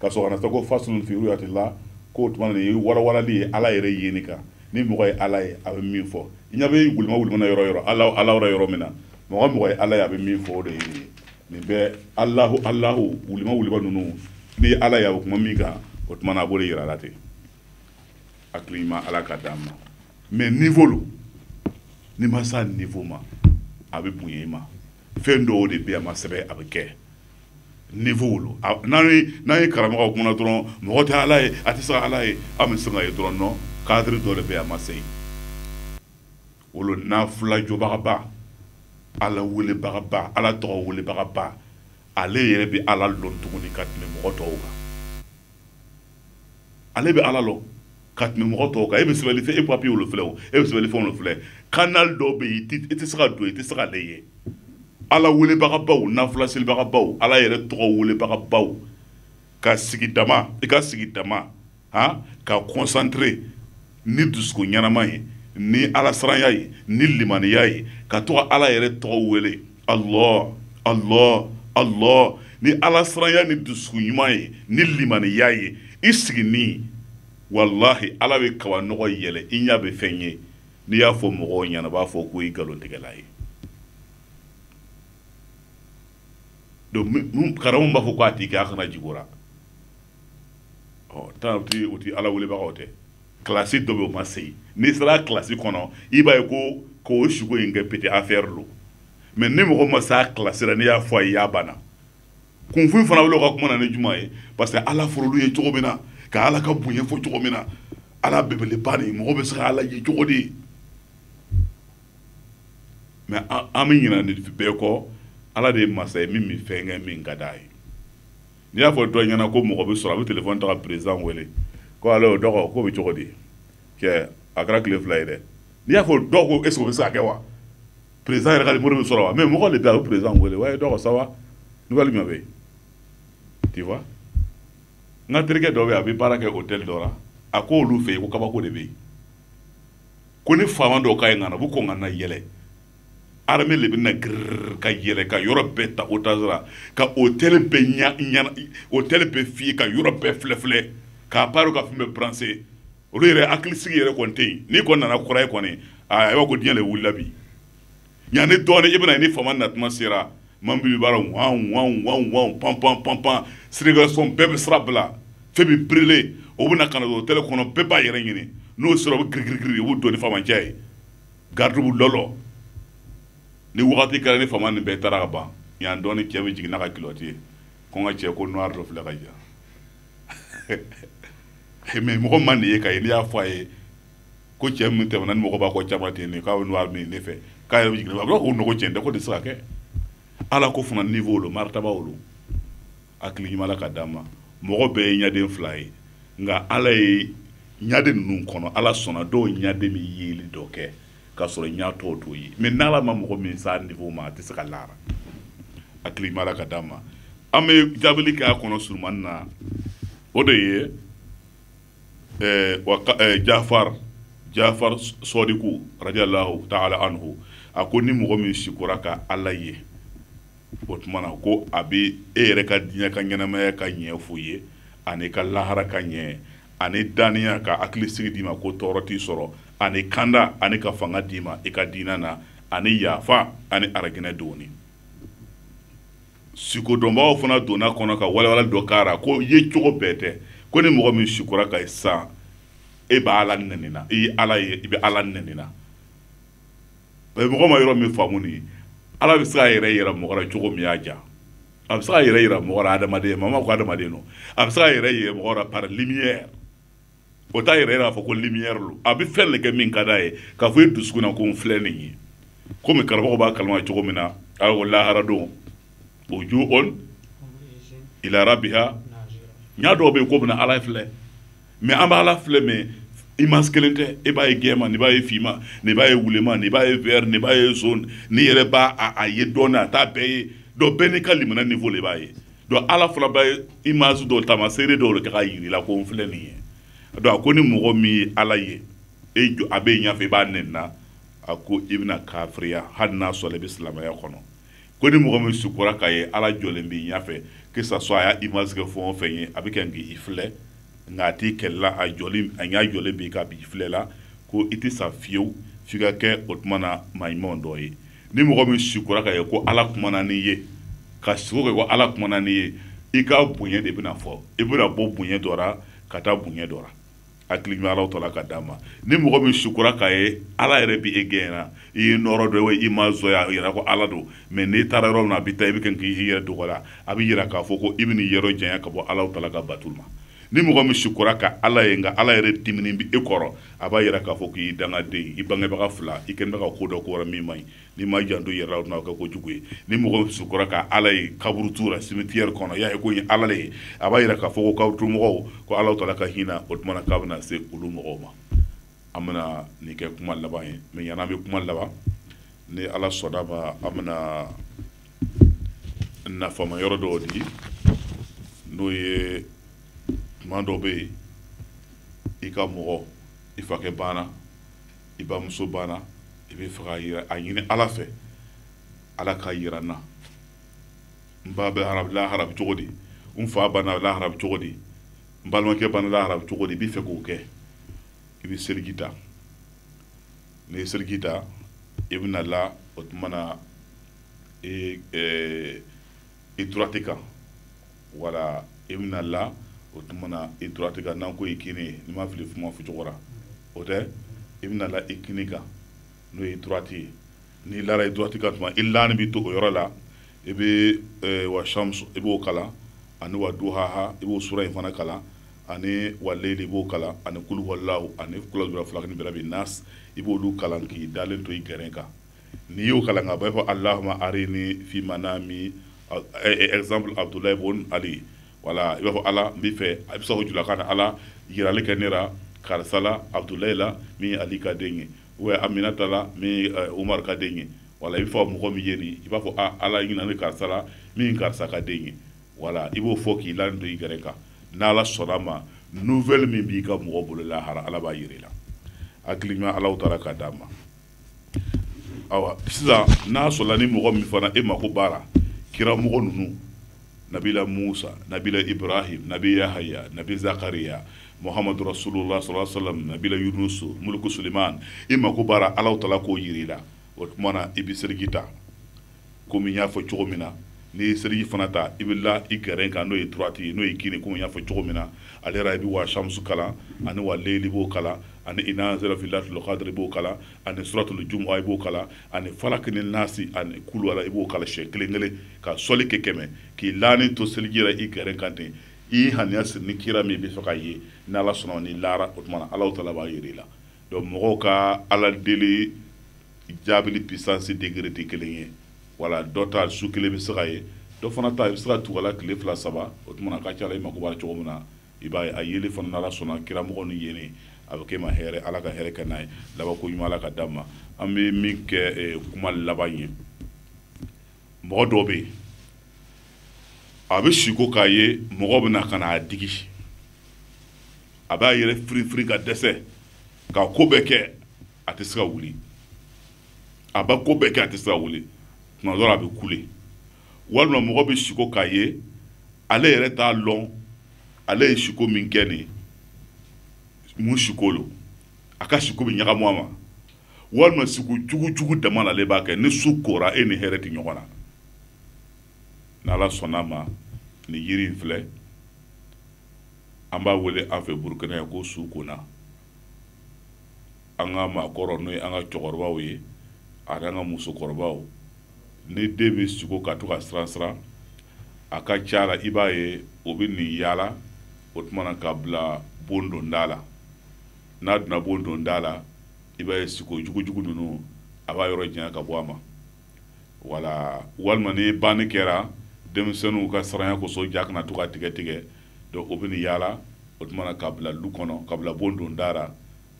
ka sɔrɔ ka na sa ko faslun fi ruyatillah ko tuma ni walawalali ye ala yɛrɛ yeni kan ni mɔgɔ ye ala ye a bɛ min fɔ i ɲa bɛ gulima wulimana yɔrɔ yɔrɔ ala ala yɔrɔ yɔrɔ min na mɔgɔ mɔgɔ ye ala ye a bɛ min fɔ o de ye nin ye nin bɛɛ alahu alahu wulima wuliba ninnu n'i ye ala ye a bɛ kuma min kan o tuma na a b'o de yira a la ten hakili ɲuman ala ka d'an ma mais nivo lo n'i ma s'a nivo ma a bɛ bonya i ma fɛn dɔw de bɛ a ma sɛbɛn a bɛ kɛ niveau lo n'an ye n'an ye karamɔgɔ kumana dɔrɔn mɔgɔ tɛ ala ye a tɛ se ka ala ye a bɛ se ka ye dɔrɔn non cadre dɔ de bɛ a ma se o la naafila jɔbagaba ala welebagaba ala tɔgɔ welebagaba ale yɛrɛ bɛ ala lɔn tuguni ka tɛmɛ mɔgɔ tɔw kan ale bɛ ala lɔ ka tɛmɛ mɔgɔ tɔw kan e bɛ sɛbɛnni fɛn e papiye olu filɛ o e bɛ sɛbɛnni fɛn olu filɛ kanali dɔw bɛ yen i tɛ se ka don i tɛ se k'ale ye ala welebagabaw nafilaselibagabaw ala yɛrɛ tɔgɔ welebagabaw ka sigi dama i ka sigi dama han ka concentré ni dusukun ɲɛnama ye ni alasiranya ye ni limaniya ye ka to ka ala yɛrɛ tɔgɔ wele Allah Allah Allah ni ala siranya ni dusukun ɲuman ye ni limaniya ye i sigini walahi ala bɛ kabanɔgɔ yɛlɛ i ɲɛ bɛ fɛn ye n'i y'a fɔ mɔgɔw ɲɛna b'a fɔ ko i nkalontigɛla ye donc karamɔgɔ b'a fɔ ko a t'i kɛ a kana jigora ɔ tan o ti o ti ala welebagaw tɛ kilasi dɔ bɛ o ma se n'i sera kilasi kɔnɔ i b'a ye ko k'o sugo in kɛ petite affaire don mɛ ni mɔgɔ ma s'a kilasi la n'i y'a fɔ a ye y'a banna kunfin fana wele ka kuma na ni juma ye parce que ala furulu ye cogo min na ka ala ka bonya fɔ cogo min na ala bɛbeleba de mɔgɔ bɛ se ka ala ye cogo de mɛ an bɛ ɲinɛ nin bɛɛ kɔ ala de ye masa ye min bɛ fɛn kɛ min ka d'a ye n'i y'a fɔ dɔ ɲɛna ko mɔgɔ bɛ sɔrɔ a bɛ telefɔni ta ka perezan wele ko allô dɔgɔ k'o bɛ cogo di kɛ a kɛra tile fila ye dɛ n'i y'a fɔ dɔw ko est-ce o bɛ se ka kɛ wa perezan yɛrɛ ka mori bɛ sɔrɔ wa mɛ mɔgɔ de bɛ a bɛ perezan wele ouais dɔgɔ ça va n'u bɛ bɛ tiwa n ka terikɛ dɔ bɛ a bɛ baara kɛ hôtel dɔ la a ko olu fɛ yen ko kabako de bɛ yen ko ni faama dɔw ka ye nana u bɛ kɔn ka na yɛlɛ armée le bɛna grrr ka yɛlɛ ka yɔrɔ bɛɛ ta otage ra ka hôtel bɛɛ ɲa ɲana hôtel bɛɛ fiyɛ ka yɔrɔ bɛɛ filɛfilɛ k'a baaro ka fɛn bɛɛ branché olu yɛrɛ hakilisigi yɛrɛ kɔni tɛ yen n'i kɔni nana kura ye kɔni aa i b'a ko diɲɛ de wulila bi yanni dɔɔnin i bɛna ye ni faama natuma sera man bi baara wan wan wan wan pan pan pan pan circulation bɛɛ bɛ sira bila fɛn bɛ birile o bɛ na ka na don hôtel kɔnɔ bɛɛ b'a yɛrɛ ɲini n'o sera o bɛ girigirigiri u b'u don ni faamacɛ ye garidibu lɔlɔ ni wagati kɛra ni faama nin bɛɛ taara ka ban yan dɔɔni cɛ bɛ jigin n'a ka kilɔti ye ko n ka cɛ ko noir dɔ filɛ ka ja mais mɔgɔ ma nin ye ka ye n'i y'a fɔ a ye ko cɛ min tɛmɛna ni mɔgɔ b'a kɔ caman ten nin k'a bɛ noir min ne fɛ k'a yɛrɛ bɛ jiginna a b'a fɔ ko non ko cɛn tɛ ko nin tɛ se ka kɛ alako fana niveau lo maritaba lo hakili ɲuman ka d'a ma mɔgɔ bɛɛ ye ɲaden fila ye nka ala ye ɲaden ninnu kɔnɔ ala sɔnna dɔw ɲaden bɛ yeli dɔ kɛ k'a sɔrɔ ɲa tɔw t'o ye mɛ n'ala ma mɔgɔ min s'a niveau ma a tɛ se ka la a ra hakili ɲuman ka d'a ma an bɛ jaabili kɛ a kɔnɔ surumani na o de ye eh, eh, jafar jafar sɔdiku radiallahu taala anhu a ko ni mɔgɔ min sikora ka ala ye o tuma na ko a bɛ e yɛrɛ ka diɲɛ ka ɲɛnamaya ka ɲɛ f'u ye ani ka lahara ka ɲɛ ani daniya ka hakili sigi d'i ma ko tɔɔrɔ t'i sɔrɔ ani kanda ani ka fanga d'i ma i ka diinɛ na ani yafa ani arijinɛ doni sikodɔnbaaw fana donna kɔnɔ ka walawala dɔ k'a ra ko ye cogo bɛɛ tɛ ko ni mɔgɔ min sikora k'a ye san e bɛ ala nɛnina i ye ala ye i bɛ ala nɛnina mɔgɔ ma yɔrɔ min faamu nin ala bɛ se a yɛrɛ yira mɔgɔ ra cogo min y'a diya a bɛ se a yɛrɛ yira mɔgɔ ra adamadenya mama ko adamaden don a bɛ se a yɛrɛ yira mɔgɔ ra par lumière o t'a yɛrɛ yira k'a fɔ ko lumière don a bɛ fɛn de kɛ min ka d'a ye k'a fɔ e dusukun na ko n filɛ nin ye komi karamɔgɔ b'a kalama cogo min na ala ko lahara don wujuhun ila rabiha ɲa dɔw bɛ yen k'o bɛna ala filɛ mais an b'ala filɛ mais image kelen tɛ e b'a ye gɛman ni b'a ye finman ni b'a ye wuleman ni b'a ye vert ni b'a ye jaune ni yɛrɛ b'a a ye donc a t'a bɛɛ ye donc bɛɛ n'i ka limaniya niveau de b'a ye donc ala fana b'a image dɔw taamaseere dɔw de kɛ k'a jir'i la ko n filɛ nin ye donc a ko ni mɔgɔ min ye ala ye e jɔ a b'i ɲafɛ i b'a nɛnina a ko i bɛna kafiriya hali n'a sɔrɔ i bɛ silamɛya kɔnɔ ko ni mɔgɔ min sukora k'a ye ala jɔlen b'i ɲɛfɛ que ça soit a y'a image kɛ fɛn o fɛn ye a bɛ kɛ k'i filɛ nka a t'i kɛlɛla a jɔlen a ɲɛ jɔlen b'i kan b'i filɛ la ko i tɛ sa fiyewu f'i ka kɛ o tuma na maa ɲumanw dɔ ye ni mɔgɔ min sukora k'a ye ko ala kumana n'i ye ka siko kɛ ko ala kumana n'i ye i ka bonya de bɛna fɔ i bɛna bɔ bonya dɔ la ka taa bonya dɔ la hakili ɲuman alaw tala ka d'a ma ni mɔgɔ min sukura k'a ye ala yɛrɛ bi e gɛnna i ye nɔɔrɔ dɔ ye image o y'a yira ko ala don mais n'i taara yɔrɔ min na a bɛ taa i bɛ kɛ k'i yɛrɛ dogola a bɛ yira k'a fɔ ko i bɛn'i yɔrɔ janya ka bɔ alaw tala ka batoli ma ni mɔgɔ min sukura ka ala ye nka ala yɛrɛ diminen b'i kɔrɔ a b'a yira k'a fɔ k'i dangaden i bangebaga fila i kɛnin bɛ ka ko dɔ k'o ra min man ɲi n'i ma janto yɛrɛ la o tɛna kɛ ko jugu ye ni mɔgɔ dɔ sukora ka ala ye kaburudo la cimetière kɔnɔ y'a ye k'o ye ala le ye a b'a yira k'a fɔ ko kaburu mɔgɔw ko ala tala ka hinɛ o tuma na k'a bɛna se olu mɔgɔw ma an bɛna nin kɛ kuma laban ye mais yann'an bɛ kuma laban ni ala sɔnn'a ma an bɛna nafama yɔrɔ dɔw di n'o ye tuma dɔ bɛ yen i ka mɔgɔ i fakɛ banna i bamuso banna i b'a fɛ k'a yira a ɲini ala fɛ ala k'a yira n na n ba banna lahara bɛ cogo di n fa banna lahara bɛ cogo di n balimakɛ banna lahara bɛ cogo di i b'a fɛ k'o kɛ i bɛ seliji ta n'i ye seliji ta i bɛna la o tuma na i i droite kan voilà i bɛna la o tuma na i droite kan n'an ko i kini ye n'i ma fili kuma fɔ cogo ra o tɛ i bɛna la i kini kan n'o ye droite ye n'i lara i droite kan o tuma i lanin bɛ to o yɔrɔ la i bɛ wa samusu i b'o kalan ani wa duhaha i b'o sura in fana kalan ani wa leyili i b'o kalan ani kuluwala ani sura falaki birabi nasi i b'oolu kalan k'i dalen to i gɛrɛ kan n'i y'o kalan ka ban i b'a fɔ alahuma arini fi manami exemple Abudulayi bun Ali voilà i b'a fɔ Ala n b'i fɛ i bɛ se k'o fɔ julakan na Ala yirali kɛ ne la karisa la Abudulayi la min ye Ali ka den ye ou bien Aminata la min ye Umaru ka den ye voilà i b'a fɛ ka mɔgɔ min ye nin i b'a fɔ a Ala i ɲinɛ ne karisa la min ye karisa ka den ye voilà i b'o fɔ k'i lanin to i gɛrɛ kan n'Ala sɔnna ma nouvelle min b'i ka mɔgɔ bolo lahara Ala b'a yira i la hakili ɲuman Alahu taala k'a d'an ma. awa sisan n'a sɔrɔla ni mɔgɔ min fana e mako b'a la kiramɔgɔ ninnu nabila musa nabila ibrahim nabi yahaya nabi zakariya muhamadu rasulullah sallallahu alaihi wasallam nabila yunusu muluku suleiman e mako b'a la alahu taala k'o yir'i la o tuma na i bɛ seliji ta komi n y'a fɔ cogo min na n'i ye seliji fana ta i bɛ la i gɛrɛn kan n'o ye droite ye n'o ye kini komi n y'a fɔ cogo min na ale yɛrɛ i bɛ wa samusu kalan ani wa leyili b'o kalan ani ina anzalna fi layilatul kadiri i b'o kalan ani suratul jumuwa i b'o kalan ani falaki ni nasi ani kuluwala i b'o kalan siɲɛ kelen kelen ka sɔli kɛ kɛmɛ k'i laani to seliji yɛrɛ i gɛrɛn kan ten i ŋaniya siri ni kira min bɛ fɛ ka ye ni ala sɔnna n'i lara o tuma na alahu taala b'a yir'i la donc mɔgɔw ka ala deli jaabili puissance degré tɛ kelen ye voilà dɔ ta su kelen bɛ se ka ye dɔ fana ta i bɛ se ka to ka la tile fila saba o tuma na a ka ca la i mako b'a la cogo min na i b'a a yeli fana n'ala sɔnna kiramɔgɔ ni ye a bɛ k'i ma hɛrɛ ala ka hɛrɛ k'an ye laban ko ɲuman ka di an ma an bɛ min kɛ kuma laban ye mɔgɔ dɔ bɛ yen a bɛ siko k'a ye mɔgɔ bɛ na ka a digi a b'a yɛrɛ firifiri ka dɛsɛ ka ko bɛɛ kɛ a tɛ se ka wuli a b'a ko bɛɛ kɛ a tɛ se ka wuli tuma dɔ la a bɛ kule walima mɔgɔ bɛ siko k'a ye ale yɛrɛ t'a lɔn ale ye siko min kɛ nin mun siko lo a ka siko bɛ ɲagamu a ma walima siko jugu jugu dama le ale b'a kɛ ni su kora e ni hɛrɛ tɛ ɲɔgɔn na n'ala sɔnna ma nin yiri in filɛ an b'a wele an fɛ burukina yan ko sukona an ka maakɔrɔ n'o ye an ka cɛkɔrɔbaw ye ani an ka musokɔrɔbaw ni den bɛ siko ka to ka siran siran a ka ca la i b'a ye o bɛ nin yaala o tuma na ka bila bon donda la n'a donna bon donda la i b'a ye siko jugujugu ninnu a b'a yɔrɔ janya ka bɔ a ma wala walima ni banni kɛra denmisɛnninw ka siranya kosɔn ja kana to ka tigɛ tigɛ donc o bɛ ni yaala o tuma na ka bila du kɔnɔ ka bila bon don da ra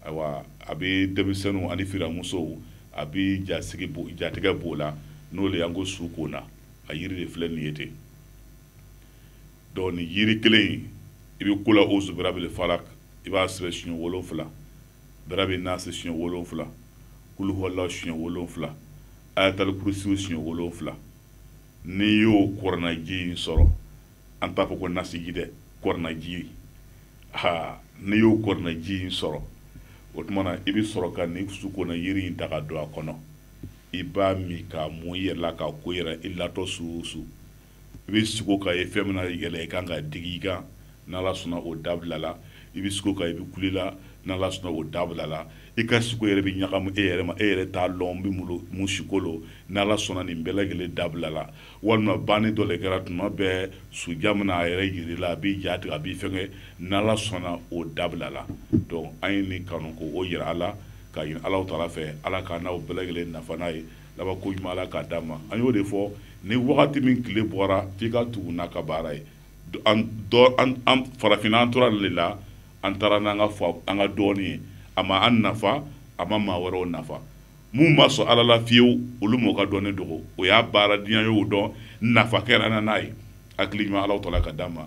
ayiwa a bɛ denmisɛnninw ani firamusow a bɛ jasigi bo jatigɛ b'o la n'o de y'an ko sukona a yiri de filɛ nin ye ten donc nin yiri kelen in i bɛ kula ozu birabili falak i b'a sɛbɛn siɲɛ wolonfila birabi nasi siɲɛ wolonfila kuluhɔla siɲɛ wolonfila ayatalikurisiw siɲɛ wolonfila n'i y'o kuranaji in sɔrɔ an t'a fɔ ko nasiji dɛ kuranaji ha n'i y'o kuranaji in sɔrɔ o tuma na i bɛ sɔrɔ ka nin sukona yiri in ta ka don a kɔnɔ i b'a min k'a mun i yɛrɛ la k'a ko i yɛrɛ i latɔ su o su i bɛ siko k'a ye fɛn min na yɛlɛ i kan ka digi i kan n'ala sɔnna o dabila la i bɛ siko ka i bɛ kuli la n'ala sɔnna o dabila la i ka siko yɛrɛ bɛ ɲagamu e yɛrɛ ma e yɛrɛ t'a lɔn n bɛ mun lo- mun siko lo n'ala sɔnna nin bɛɛ lajɛlen dabila la walima banni dɔ le kɛra tuma bɛɛ suja mana a yɛrɛ yir'i la a b'i ja tigɛ a b'i fɛngɛ n'ala sɔnna o dabila la donc an ye nin kanu k'o yira aw la ka ɲini alahu taala fɛ ala k'an n'aw bɛɛ lajɛlen nafa n'a ye labanko ɲuman ala k'a d'an ma an y'o de fɔ ni wagati min tile bɔra f'i ka tugu n'a ka baara ye Do- an dɔ- an- an farafinna an tora le la an taara n'an ka fa- an ka dɔnni ye a ma an nafa a ma maa wɛrɛw nafa minnu ma sɔn ala la fiyewu olu ma o ka dɔnni dogo o y'a baara diɲɛ y'o dɔn nafa kɛra na n'a ye hakili ɲuman alahu taala k'a d'an ma